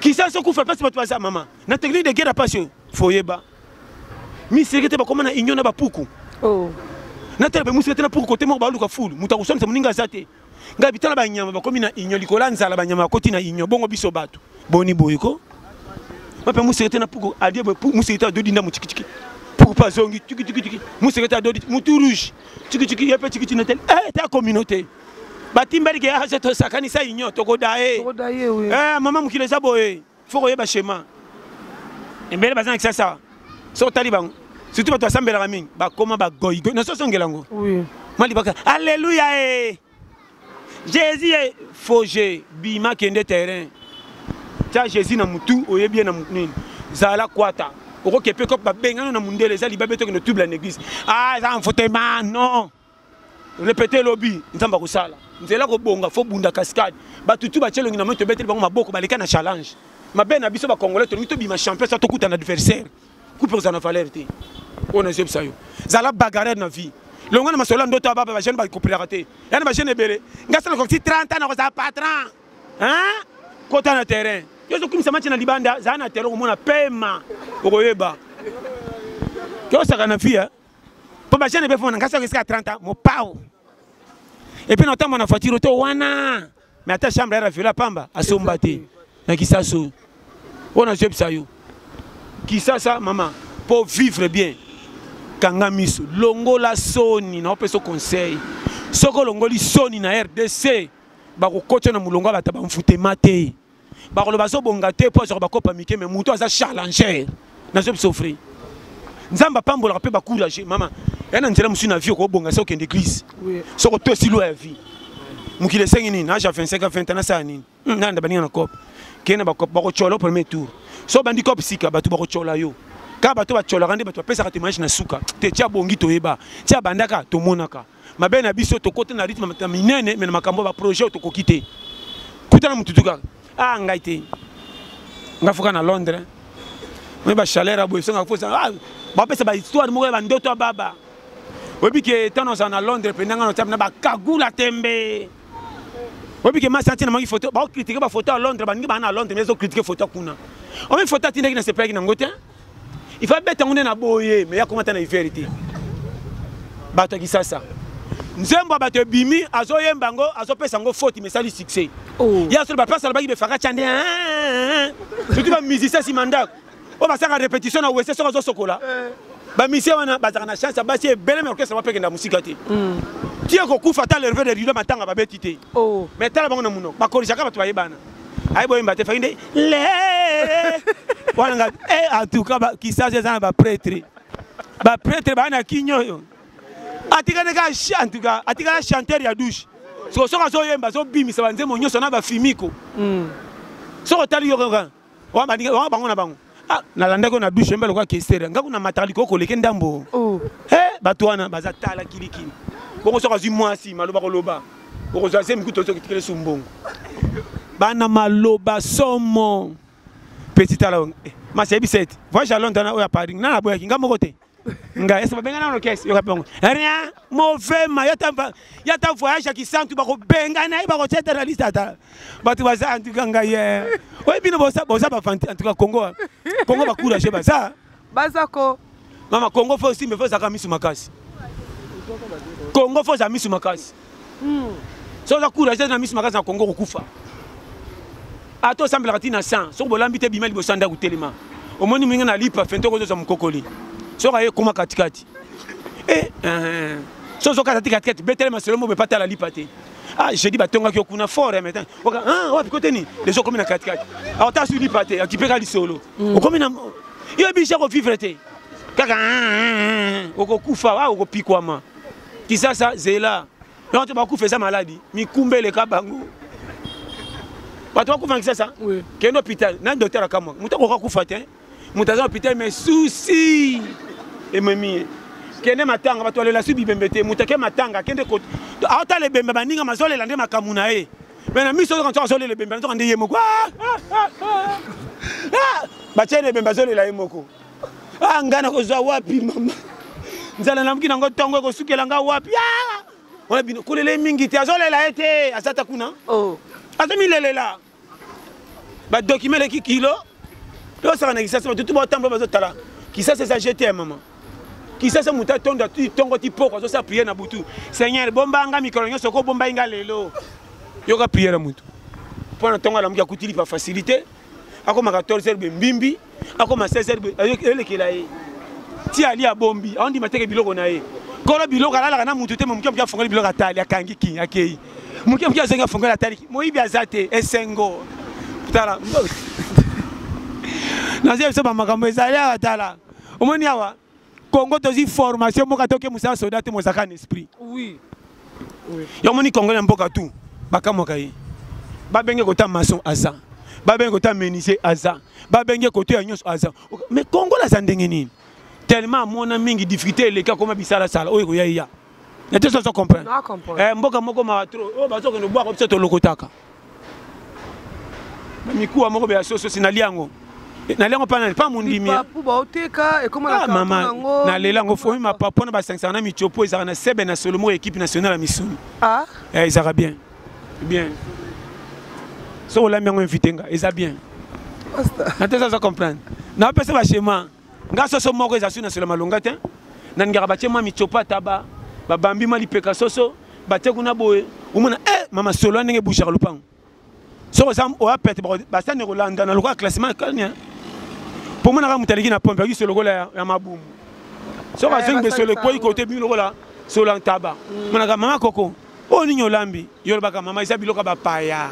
Speaker 1: kisa so kufa pasi bato baza mama na technique de guerre ya pasi oyo foyeba misireke te bakoma na union na bapuku oh.
Speaker 2: natala
Speaker 1: bemusika te na puku kote moko baluka fulu moto akoswanisa moninga aza te ngai bitala banyama bakomi na union likolo ya nzala banyama bakoti na union bongo biso bato boni boye ko mape musika te na puku adie musika te adodi nda motikitiki puku mpe azongi tikitiki musika te adodi motu rouge tikitiki ye mpe tikiti na tele e eh, ta communauté batimbali ke azo ah, tosakanisa union tokoda ye eh, mama mokili eza boye fo koyeba
Speaker 2: chemin
Speaker 1: ebele baza na kisasa so otali bango surtout bato basambelaka mingi bakoma bagoigoi na soso ongela yango malibaka alleluya e eh. jésus e faux jeu bima kende terrain tya jésus na motu oyebi ye na nini zala kwata okokepe kop babengano na mondele eza libabe tokende tubla na église ah eza mfotema non repete lobi nzambe akosala nzela kobonga fo bunda cascade bato tu batye elongi na moi tobeteli bango maboko baleka na challenge mabe na biso bacongolais tolingi tobima champion sa tokuta na adversaire kupe kozala na valeur te oyo nazebisa yo zala bagarre na vie longo na masolo ya ndoto ya baba bajeune bakopelaka te yana bajeune ebele ngai sala kosi 30 ans nakozala patron kota na terrain yo ozokumisa match na libanda zala na terrain okomona pema okoyeba tosaka na vie mpo ba jeune befona ngai soki esika ya 30 ans mopao epuis naotamba na voiture to wana me ata chambre ya raviola pamba asomba te na kisasu oyo nazoyebisa yo kisasa mama mpo vivre bien kanga miso longola soni naopesa conseil soki olongoli soni na rdc bakokotya na molongo ya bato bamfutema te bakoloba azobonga te mpo azwaka bakopa mike me moto aza charlanger nazo bisofri nzambe apambolaka mpe bacourage mama ya na nzela mosusu na vie okobonga se okende eglise soko to esilo ya vie mokili esengi nini age ya 25 ya 20 nasala nini hmm, nanda baninga na cope kende na bacope bakotyola premier tour so obandi cope sika bato bakotyola yo kaka bato batyolaka nde bato bapesaka temage na suka te tia bongi toyeba tia bandaka tomonaka mabe na biso tokota na rythme ya minene me na makambo ya baprojet oyo tokoki te kutana motutu kaka a ah, ngai te ngai foka na londres oye bachaleur ya boye songa fosa ah, bapesa bahistoire moko ya bandoto ya baba oyebi ke ntango nazala na londres mpenza ngai notape na bakagula tembe oyebi ke masi atina mangi foto bakokritike bafoto ya londres baningi baa na londres me ezokritike foto kuna omi foto atindaki nasepelaki nango te il faut abeta yango nde na boye me yakoma ata na hiver te bato ya kisasa nzembo ya bato ebimi azoyemba yango azopesa yango foti mesali succès oh. ye asoloba place alobaki befakaca nde surtout bamusicien nsima ndako oyo basaka répétition na wese soki azosokola eh. bamisie wana bazalaka na chance ya basi ebele me orchestre bapekenda mosika te hmm. tie kokufa ata lerve de rido matanga babeti te oh. me tala bango na monoko bakolisaka bato bayebana ayi boyemba te faki nde le wana nga eh, en tout cas kisasa eza na bapretre bapretre baa na kini oyo atikali kaka en tout cas atikala chanteur ya douche soko soki azoyemba azobimisa banzembo nyonso na bafimiko hmm. soki otali yo kaka bango na bango ah nalandaki yo na dushe mbe lokola kestere ngai kuna mataka likoko koleke ndambo oh. eh, bato wana baza tala kilikili bongo soki azwi mwasi maloba koloba okozwa zemi kutu ozoki tikele su mbongo bana maloba somo petit tala eh, masi ayebisa ete voyage à londres na oyo ya paris nga naboyaki nga moko te nga ese babenga nano kese yoka mpe yango rien mauvais ma ya ta voyage ya kisantu bakobenga na ye bakotyeta na liste ata bato baza antuka ngai oyebi bino boza bafanti antuka congo congo bacourage baza baza ko
Speaker 2: mama congo
Speaker 1: fo osimbe fo ozalaka misu makasi congo fo oza misu makasi hmm. soki oza couragese na miso makasi na congo kokufa ata osambelaka ti na san soki bolambi te bima liboso ya ndako telema omoni moninga na lipa fente okozozwa mokokoli soki aye ekoma katikati eh, eh, so ozokata ti katikati betele masolo mo bepata la lipa te ah jeudi batongaki yo kuna fort mais oka ah wapi kote nini les okomi na kati kati alors ta su lipa te akipe ka lisolo mm. okomi na yo bicha ko vivre te kaka okokufa wa okopikwama kisasa zela yango to bakufa eza maladi mikumba eleka bango bato bakufa na kisasa kende hôpital na docteur akamwa moto akoka kufa te moto aza hôpital mais susi ememi ye kende matanga bato balela su bibembe te moto ake matanga akende aotala ebembe baninga mazolela nde makambo na ye me na miso ozoka nsoka azolela ebembe nazoka nde ye moko ah, ah, ah. batyeli ebembe azolela ye moko a ah, ngai nakozwa wapi mama nzala namoki nango ntongo ekosukela ngai wapi ah! wana bino kolele mingi te azolela ye te aza ta kuna oh. azomilelela badokima eleki kilo tosaka na kisasa batutu baotambola bazotala kisasa eza jete ya mama kisasa moto atondo tongo ti poko azosala priere na butu seigneur bomba nga mikolo nyonso okobombai nga lelo yoka priere ya motu mpo na ntongo alamuki akutili pa facilité akoma 14 heures mbimbi akoma 16 heures elekela ye ti ali abombi aondima teke biloko na ye kolo biloko alalaka na mutu te moke moke afongoli biloko atali akangi king akei moke moke azongi afongoli atali moyibi aza te esengo tala nazo yebisa bamakambo ezali awa tala omoni awa Congo tozi formation mboka toke musala soda te mozaka na esprit. Oui.
Speaker 2: Oui. Yo moni Congo na
Speaker 1: mboka tout bakamwaka ye. Babenge kota maçon aza. Babenge kota menuisier aza. Babenge koto ya nyonso aza. Mais Congo la za ndenge nini? Tellement amona mingi difficulté eleka koma bisala sala oyo ekoya ya. na te soso comprendre eh, mboka
Speaker 2: moko mawa tro oyo
Speaker 1: oh, bazokende obwaka biso tolokotaka mikuwa moko beya soso si nali yango eh, nali yango mpa nani mpa mondimi
Speaker 2: ah, mama nalela
Speaker 1: yango fomi mapapu wana basangisaka na micopo ezalaka na sebe na solo moko ekipe nationale ya misuni ah? eh, ezalaka
Speaker 2: bien
Speaker 1: bien soki olambi yango invite nga eza bien na te soso comprendre napesa bachema nga soso moko eza su na solo malonga te na ningaka batie mwa mitsopa taba babambi mwa lipeka soso batie kuna boye omona e eh, mama solo ya ndenge bushaka lopango soki oza oya pete basani ekolandana lokola classement kani mpo monaka moto aleki na pompe akisi lokola ya mabumu soki eh, azongi mpe solo ekwei kote bimi lokola solo ya ntaba mm. monaka mama koko oyo nini olambi yo olobaka mama eza biloko ya bapaya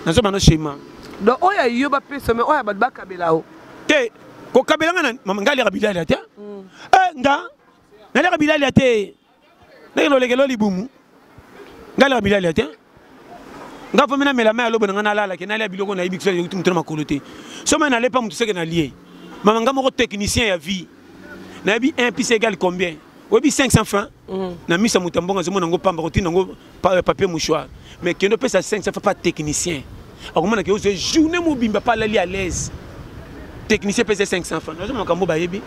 Speaker 1: nazobana shema donc oyo yo
Speaker 2: bapesa me oyo bato bakabela o te
Speaker 1: kokabela nga nani mama nga aliaka bilalia te mm. eh, nga naliaka bilalia te ndenge lolekelo libumu nga aliaka bilalia te nga fomi namela mai ya lobo na nga nalalake nalia biloko nayebi kiso euti moto na makolo te soki mai nalepa moto seke nalie mama nga moko technicien ya vie nayebi 1 plus égal combien oyebi 500 francs mm. na misa moto ya mbongo azomona yango pamba kotina yango euh, papier mouchoir mais kende opesa 500 francs pa technicien akomona ke ozwa journée mobimba pa alali à l'aise technicien pesa 500 francs nazo makambo bayebi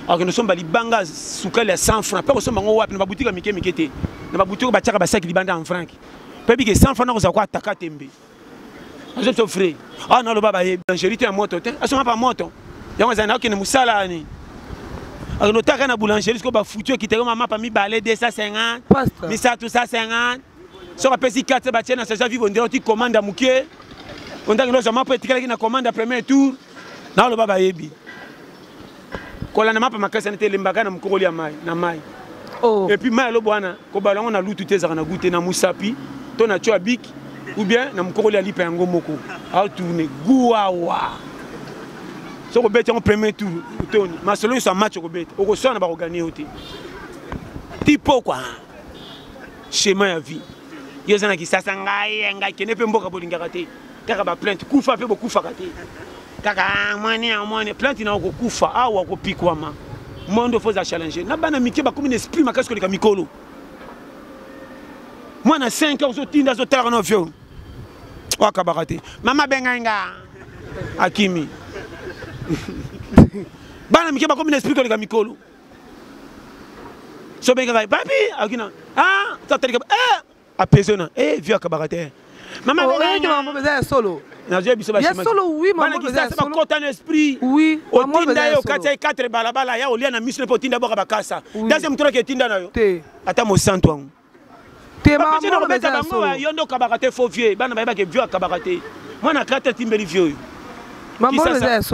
Speaker 1: akende osomba libanga sukali ya 100 francs mpe kosomba yango wapi na babutiki ya mike mike te na babutiki oyo batyaka basaki libanda en franc mpe bike 100 francs nakozala ko ataka tembe azo to frais ah na loba ba ye boulangerie te moto te asonga pa moto yango azali na okende musala ni akende otaka na boulangerie siko ba futur ki te ko mama pa mi balé 250 pasta misa tout ça 50 soka pesi 4 ba tiena sa ja vivo ndero ti commande mukie ondaki lozo mapa etikala ki na commande premier tour naloba bayebi kolanda mapa makasi ana te elembaka na mokokoli ya mai na mai oh. epuis mai alobo wana kobala yango na lutu te ezalaka na gu te na mosapi to na tio ya biki ou bien na mokokoli ya lipa yango moko aotourne guawa soki obeti yango premier tour otoni masolo nyonso ya match okobeta okoswana bakoganie yo te ti pokwa chemin ya vie yo oza na kisasa ngai ngai kende mpe mboka bolingaka te kaka ba plainte kufa mpe bokufaka te kaka ah, mwani ya mwani plainte na okokufa awa okopikwama mondo fo za challenge na bana mike bakomi na esprit makasi koleka mikolo mwana 5 ans ozotinda azotalaka na vio wakabaka te mama abengai nga akimi bana mike bakomi na esprit koleka mikolo so bengaka papi akina ah, tatalika eh, apesona e eh, vio akabaka te mama oh, eh, eza ya solo
Speaker 2: nazwi biso
Speaker 1: bakisansa
Speaker 2: bakota na esprit
Speaker 1: otinda
Speaker 2: ye okati
Speaker 1: ya 4 balabala ya olia na miso mpe otinda boka bakasa deuxième moto oki etinda na yo ata mosantu yango nakobeta bango yo nde okabaka te faux vieux bana bayebake vieux akabaka te mwana kati atimbeli vieux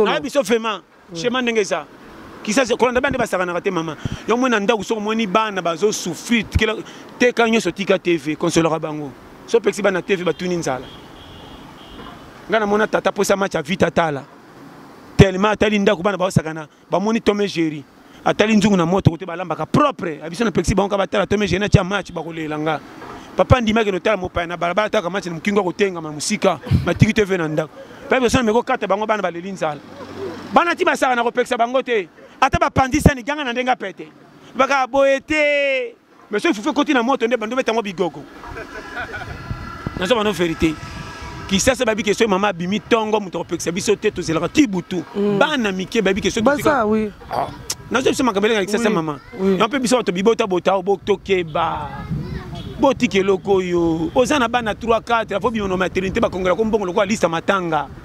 Speaker 2: oyo biso vraiment
Speaker 1: Shema ndenge eza kisasi kolanda bande basakanaka te mama yo omoni na ndako soki omoni bana bazosouffrir teka nyonso tika tv konsolaka bango so opekisi bana tv batuni nzala ngai namona tata mposa match ya vita tala tellement atali ndako bana baosakana bamoni tome géri atali nzungu na moto kote balambaka propre abiso na pekisi bango ka batala tome gene atya match bakolela nga papa ndimaki notala mopaya na balabala ataka match na mokingo akotengama mosika matiki te ve na ndako mpe biso na meko kata bango bana baleli nzala bana ti basaka na kopekisa bango te ata bapanzi sani ganga na ndenge apete baka boye te mais soki fufu ekoti na moto nde bando beta yango bigogo nazo bano verité kisasa bayebi ke soki mama abimi ntongo moto akopekisa biso te tozelaka ti butu mm. bana mike bayebi ke soki ah.
Speaker 2: nazo biso
Speaker 1: makambo elengaka kisasa mama yango mpe biso bato bibota botao botokeba botika eloko oyo oza na bana 3 4 fo bima na maternité bakongela ko mbongo lokola lista matanga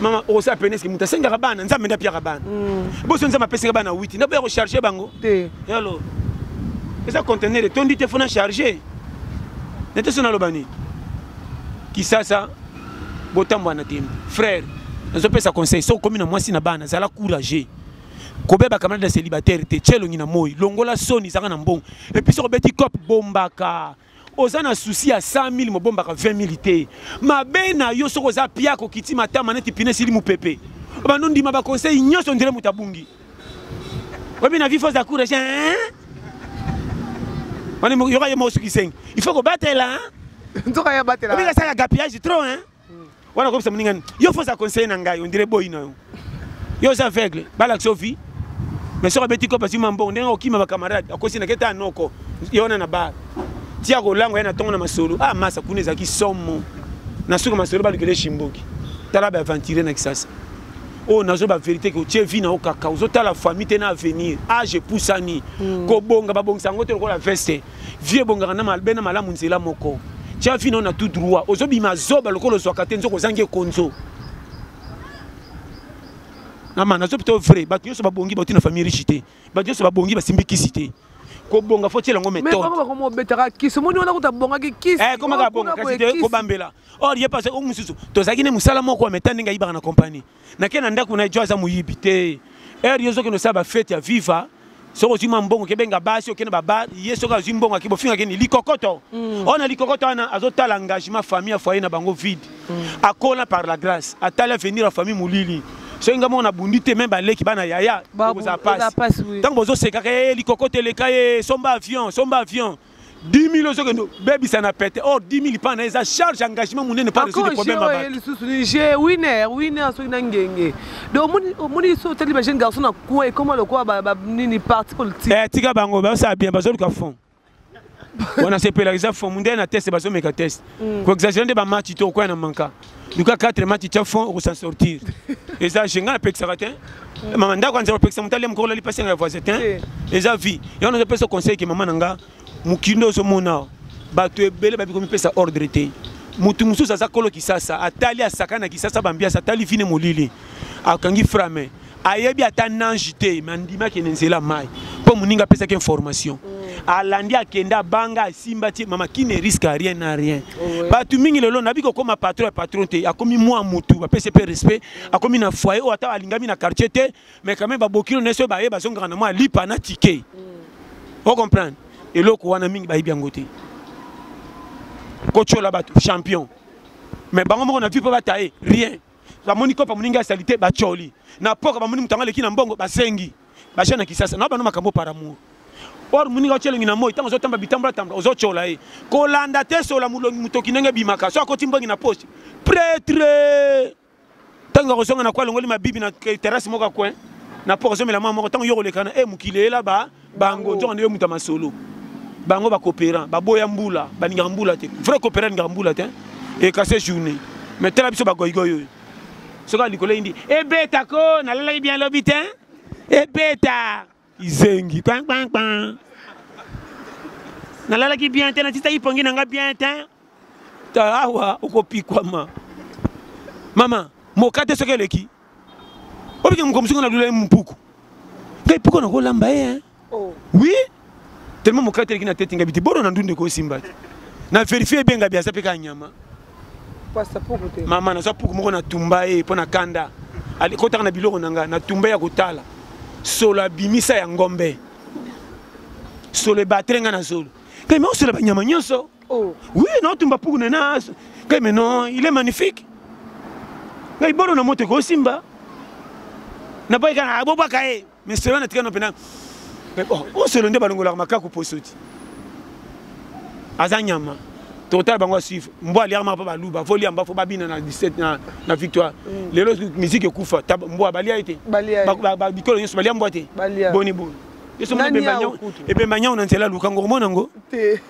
Speaker 2: mama okosa
Speaker 1: pene eske moto asengaka bana nzambe nde apiaka bana mm. boso nzambe apesaka bana witi nde boya kocharge bango te yalo eza contener etondi te fona charge nete so naloba nini kisasa botambwa na tembe frère nazopesa conseil soki okomi na mwasi na bana zala courageux kobeba camarade ya célibataire te tye elongi na moi longola soni ezaka na mbongo epuis soki obeti cop bombaka oza na souci ya 100 000 mobombaka 20 000 te mabe na yo soki oza pia kokiti matama neti pine esili mopepe bando ndima baconseil nyonso ndele moto abungi oyebi na vifo za courage wana yoka ye mosukisenge il faut kobatela nzoka ya batela oyebi
Speaker 2: kasala gapiage trop
Speaker 1: hein wana kobisa moninga nini yo fo oza conseiller na ngai ondire boyi na yo yo oza aveugle balakisa ovi mais soki abeti kope azwi mambongo ndenge okima bacamarade akosi na keta anoko ye wana na bar tia kolango ye na ntongo na masolo ah masa kuna ezalaki somo na suka masolo balukela eshimboki tala baaventure na kisasa oyo oh, nazo baverité ke otie vi na yo kaka ozotala famille te na avenir age epusani hmm. kobonga babongisa yango te lokola veste vie ebongaka na malbe na malamu nzela moko tya vi nao na tout droit ozobima zoba lokola ozwaka te nzoka ozangi ekonzo ama nazo pito vrai bato nyonso babongi bauti na famille riche te bato nyonso babongi basimbi kisi te kobonga fo tiela yango metodebetaka kisi
Speaker 2: omoni wana kuta abongaki kisi eh, komaka abonga kasi te
Speaker 1: kobambela or ye pase o mosusu tozalaki ne mosala moko ya meta ndenge ayibaka na compagnie nake na ndako na ye jo aza moyibi te heure yo ozokende osala bafete ya viva soki ozwi mwa mbongo okebenga basi okende babar ye soki azwi mbongo ake bofinga keni likokoto mm. oyo na likokoto wana azotala engagement famille ya foyer na bango vide mm. akola par la grâce atali avenir ya famille molili soki nga moko nabundi te meme baleki bana yaya okozala pasi ntango bozosekaka ye eh, likokoto eleka ye eh, somba avion somba avion 10000 ozokende obebisa na pete or 10000 mpa na eza charge engagement monene mpa resoudre problème ya lisusu ni je
Speaker 2: winner winner soki na ngenge donc omoni so otali ba jeune garçon na coin ekoma lokola nini parti politique eh, tika bango bazosala
Speaker 1: bien bazoluka fond wana sepelaka eza fond mondele na teste bazomeka teste koexagere nde bamatch to okoya na manka luka 4 match tya fond okosan sortir eza je ngai napekisaka te mama ndako anzela kopekisa moto alia mokolo alipasi yanga ya voisin te eh. eza vie yango nazopesa conseil ke mama na nga mokindo ozomona bato ebele babi komipesa ordre te motu mosusu aza kolo kisasa atali asaka na kisasa bambiasi atali vine molili akangi frame ayebi ata nange te me andimaki na nzela mai mpo moninga apesaki information mm. alandi akende abanga asimba ti mama qui ne risque rien na rien bato mingi lelo nabi kokoma patron ya patron te akomi mwa motu bapesi mpe respect akomi na foyer oyo ata alingami na quartier te mais quand même babokilo na yeso baye bazongaka na mwa lipa na tike mm. o comprendre eloko wana mingi bayebi yango te kotyola bato champion mais bango moko na vie mpo bataye rien bamoni kopa moninga ya salite bacoli na poka bamoni moto yango aleki na mbongo basengi baja na kisasa na bano makambo par amour or moninga otya elongi na moi ntango ozotamba bitambolatambla ozotyola ye kolanda te sola molongi motoki ndenge ebimaka so akoti mbongi na poche pretre ntango akozonga na kwa alongoli mabibi na terrasse moko ya coin na po ozomela mwa moko ntango yo kolekana e eh, mokili eyela ba bango nzoka nde yo moto ya masolo bango bacoopérant baboya mbula balingaka mbula te vrai coopérant alingaka mbula te ekase journée mais tala biso bagoigoi oyo soki likolo eyindi ebeta ko nalalaki bien lobi te ebeta izengi kpankpankpan nalalaki bien te natitaki pongi na nga bien te awa okopikwama mama mokate soki eleki obike mokambo soki nalula ye mpuku ngai mpuku nakolamba ye hein oh. oui tellement mokate eleki na tete ngai biti boro na ndunde kosimba te na verifie ebenga bi aza mpe kaka nyama
Speaker 2: mama naza puku moko
Speaker 1: natumba ye mpo na kanda kotaka na biloko na ngai natumba ya kotala solo abimisa ya ngombe solo ebatele ngai na zolo ngai makosola banyama nyonso Oh. Oui, non, tumba puku na na. Kay mais non, il est magnifique. Ngai bolo na moto ko simba. Na pai kana aboba kae. Mais c'est wana tikana pena. Mais bon, on se londe balongola makaku posoti. Aza nyama. Total bango suivre. Mbwa lia ma pa baluba, fo lia mba fo babina na 17 na na victoire. Mm. Lelo musique ekufa, mbwa balia ete. Balia. Ba ba bikolo yesu balia mbwa te. Boni boni. Yesu mbwa bemba nyao. Ebemba nyao na nzela lukango mona ngo. Te.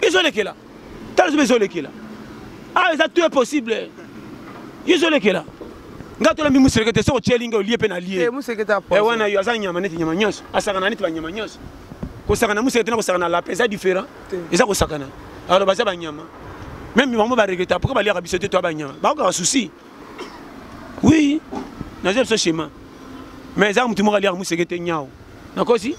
Speaker 1: ezolekela tala zoba ezolekela awa ah, eza tout impossible ezolekela nga tolambi museleke te soki otyeli nga olie mpe na lie eh, wana
Speaker 2: yo aza nyama
Speaker 1: neti nyama nyonso asakana neti banyama nyonso kosakana museleke te na kosakana lape eza différent eza kosakana alors baza banyama meme bango baregreta pourkoi baliaka biso te to ya banyama bakokaka souci oui naza biso chemin mais ezaka motu moko aliaka moseke te nyao nakosi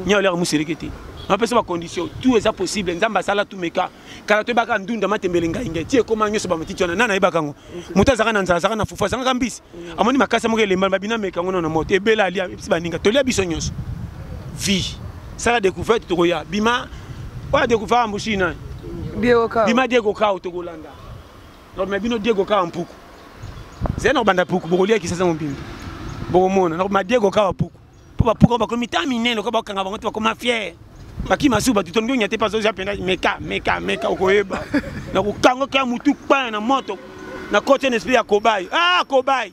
Speaker 1: nyao aliaka moseleke te napesa bacondition tout eza possible nzambe asala tumeka kala toyebaka ndunda matembele ngai ngai ti ekoma nyonso bamatiti wana nana ayebaka yango moto azalaka na nzala azalaka na fufu azangaka mbisi amoni makasi moko elembana babina meka yango na moto ebela alia ebisi baninga tolia biso nyonso vie sala découverte tokoya bima oyo adecouvert ambushi nani bima diekokao tokolanda Donc mais bino Diego kaka mpuku. C'est na banda puku bokolia kisasa mombimbi. Bokomona na ma Diego kaka puku. Po ba puku ba komi ta minene ko ba kanga bango to ba koma fier. Baki masuba tu tongo nyate pas oza penda meka meka meka okoyeba. Na ko kango kaka mutu pa na moto. Na kote na esprit ya kobai. Ah kobai.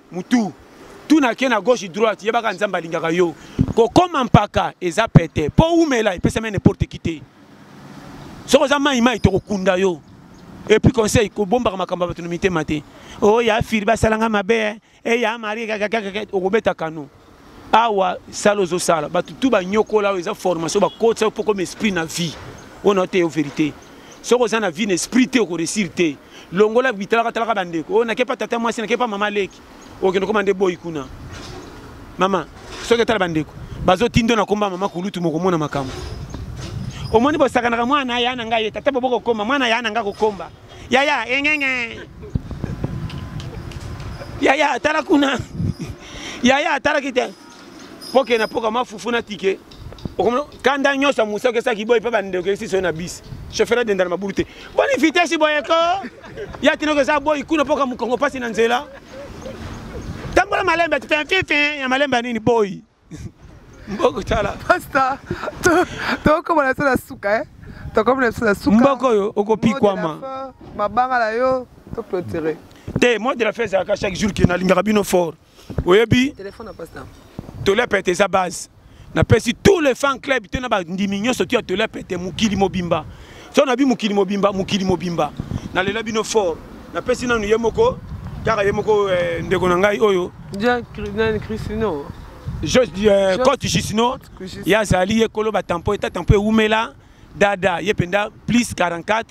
Speaker 1: mutu tuna ke na gauche droite yebaka nzambe alingaka yo kokoma mpaka eza pete mpo umela epesami n'importe qui te soki oza mai mai tokokunda yo epuis conseil kobombaka makambo ya bato na mitema te oyo oh, ya firi basalanga mabe eh. eya eh, mari okobeta kano awa sala ozosala bato tu banyokola oyo eza formation bakotisa yo mpo koma esprit na vie oyo na oteyo verité soki oza na vie na esprit te okoresir te longola bitalakatalaka bandeko oyo nakepa tata mwasi nakepa mama leki okende koma nde boyi kuna mama soki etala bandeko bazotindo na komba mama kulutu mokomona makambo omoni bosakanaka mwana ya na ngai ye tata bobokokoma mwana ya na ngai kokomba yaya engenge yaya tala kuna yaya tala kite poke na poka mafufu na tike kanda nyonso ya mosa okesaki boye mpe bandeko okesi soyo na bisi chauffeur adenda na mabulu te boni vitesi boye ko ya tinoko eza boyi kuna mpoka mokongo mpasi na nzela tambola malembe ti fin fin fin ya malembe ya nini boyi mboko tala pasta
Speaker 2: tokoma na biso na suka e tokoma na biso na suka mboko oyo okopikwama
Speaker 1: mabanga na yo
Speaker 2: toclotire te moi de la fin
Speaker 1: ezalaka chaque jour ke nalingaka bino fort oyebi
Speaker 2: tolia pete
Speaker 1: eza base napesi tous les fan club to na bandimi nyonso to ya tolia pete mokili mobimba so nabi mokili mobimba mokili mobimba nalela bino fort napesi nanu ye moko kaka ye moko eh, ndeko na ngai oyo
Speaker 2: christino eh,
Speaker 1: cote jusino ye azali ye kolo batampo eta tampo ewumela dada ye mpenza plus 44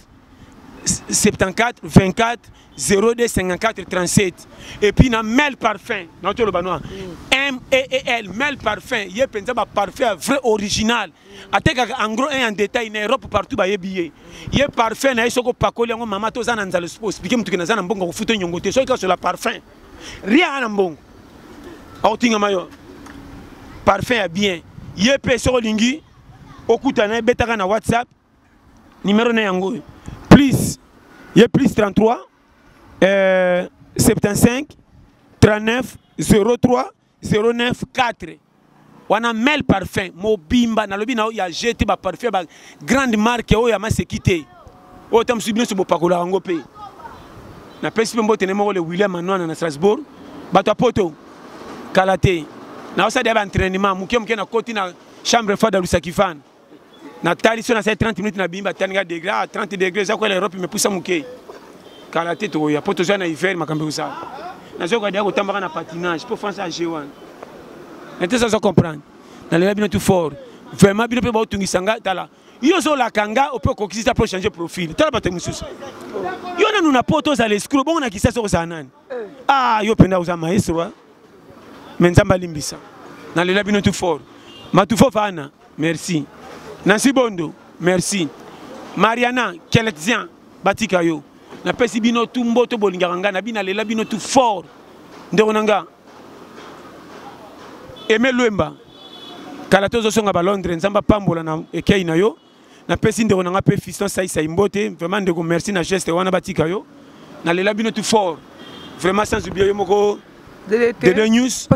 Speaker 1: 74 24 02 54 37 et puis na mel parfum na toloba noa mm. meel mel parfum ye mpenza baparfum ya vrai original atekaka en gros un en détail na europe partout bayebi ye ye parfum na ye soki opakoli yango mama toza na nzala osplike motuki naza na mbongo kofuta nyongo te soki kasola parfum ria na mbongo akotingama yo parfum ya bien ye mpe soki olingi okutana ebetaka na whatsapp numero na yango oyo plus ye plus 33 euh, 75 39 03 094 wana mel parfum mobimba nalobi na yo ya je te baparfum ba grande marque oyo ya maseki te oyo ta mosusu binoso bopakolaka yango mpe napesi mpe mbote ne moko le william anwana na strasbourg bato ya poto kala te naosala ya baentrainement moke moke nakoti na chambre fada lusakifana na tali so na sai 30 minutes na bimba tani ga degré ah 30 degré eza ko la Europe me pusa muke kala te to ya poto zo na hiver makambe usa na zo ko dia ko tambaka na patinage pour France AG1 na te zo comprendre na lela bino tout fort vraiment bino pe ba otungisa nga tala yo zo la kanga o peut kokisa pour changer profil tala ba te mususu yo na nuna poto za l'escroc bon na kisa so za nani ah yo penda oza maestro hein? mais nzambe alimbisa nalela bino tout fort matufo fana merci nansi bondo merci mariana kelexien batika yo napesi bino tu mboto bolingaka ngai na bino nalela bino tu fort ndeko na nga eme lwemba kala tozosonga balondre nzambe apambola na ekei na yo napesi ndeko na ngai mpe fiston saisai mbote vraiment ndeko merci na geste wana batika yo nalela bino tout fort vraiment sans oublie yo moko dede news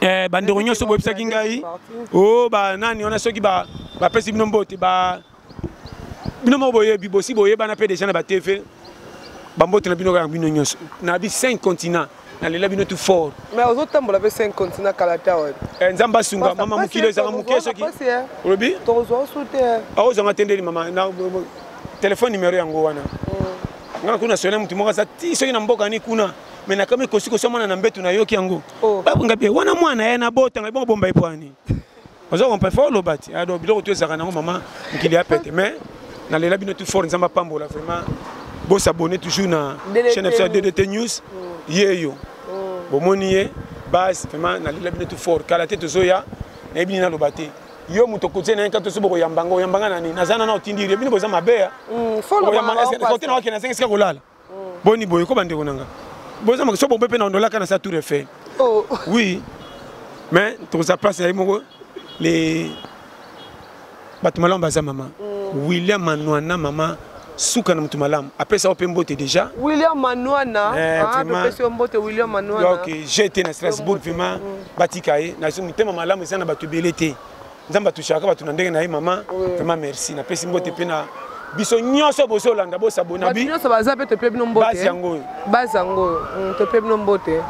Speaker 1: eh,
Speaker 2: bandeko nyonso boyebisaki
Speaker 1: ngai o oh, banani wana soki bapesi bino mbote bino moko boyebi bosi boyebana mpe deja na batv bambote na bino kaka bino nyonso na bi 5 continent nalela bino tout fort mais ozo tambola pe
Speaker 2: 5 continent kala ta wapi eh nzamba sunga
Speaker 1: mama mukilo ezanga muke soki olobi tozo sute
Speaker 2: ah ozo nga tendeli mama
Speaker 1: na téléphone numéro yango wana mm. nga kuna sona mutu moko sa ti soki na mboka ni kuna me nakami kosi kosomana na mbetu nayoki yango oh. babunga bie wana mwana ye nabota ngai bongo bomba ye pwani oza comprendre fo oloba ti ah, donc biloko to ezalaka nango mama mokili ya pete mais nalela bino tout fort nzambe apambola vraiment bosabone toujours na chaîne episode ya ddt news mm. ye yo mm. bomoni ye base vraiment nalela bino tout fort kala te tozoya nayebi nini naloba te yo moto okotie na ye kaka toso bokoyambanga oyambanga na nini naza nana otindi ye bino boza mabe ya mm, okoyambanga kote na wakende azangi esika kolala boni boye ko bandeko na nga boza makiso bombe mpe na ondolaka na sa tour eiffel oh. oui mais tokozala place ya ye moko le bato malamu baza mama mm. william manwana mama suka na moto malamu apesa yo mpe mbote déjà william manwana
Speaker 2: eh, ah, apesi yo mbote william manwana donc je te na
Speaker 1: strasbourg vraiment mm. batika ye na motema malamu eza na bato ebele te nzambe atushaka bato na ndenge na ye mama vraiment merci napesi mbote mpe na biso nyonso bozolanda bosabona bi nyonso baza mpe tope bino mbote
Speaker 2: base yango oyo base yango oyo mm, tope bino mbote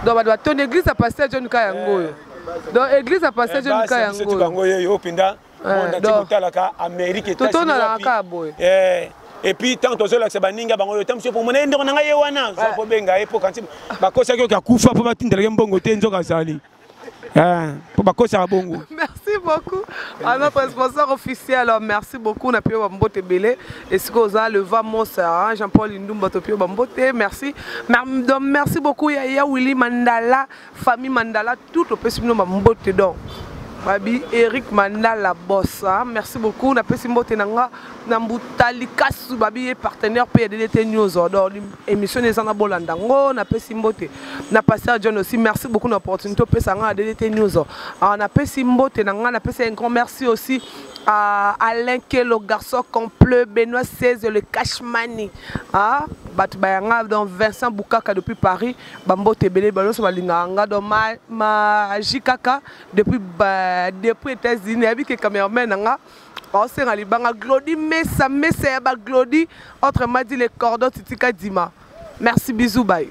Speaker 2: donc bato batondi église ya pasteur john ka yango oyo eh. donc église ya pasteur eh, john ka yango oyo bango yeyo oyo mpenza
Speaker 1: eh, totalaka amérique totonalaka kaka boye epuis ntango tozolakisa baninga bango oyo ta mosusu pomona ye ndeko na ngai ye wana oza kobenga ye mpo kanti bakosaki oki akufa mpo batindelaki mbongo te nzoka azali mpo bakosaka bongo merci beaucoup
Speaker 2: à notre sponsor officiel merci beaucoup na pio bambote ebele esika oza leva mosa hein, jean paul indumba to pio bambote merci donc merci beaucoup ya ya willy mandala famille mandala tout opesi bino bambote donc babi eric mandala bossa hein. merci beaucoup napesi mbote na nga na mbuta likasu babi ye partenaire mpe ya ddte news odor émission eza na bolanda ngo napesi mbote na pasteur john aussi merci beaucoup na opportunité opesa ngai na ddte news ah, napesi mbote na ngai napesi un grand merci aussi à alain kelo garçon complet benoît 16 le cashmani ah, bato baya ngai donc vincent bukaka depuis paris bambote ebele banyonso balingaka ngai donc maji kaka depuis, depuis états-unis nayebi ke cameraman na ngai baosenga libanga glodi mesa mesa ya baglodi autrement dit le cordon titika dima merci bisou baye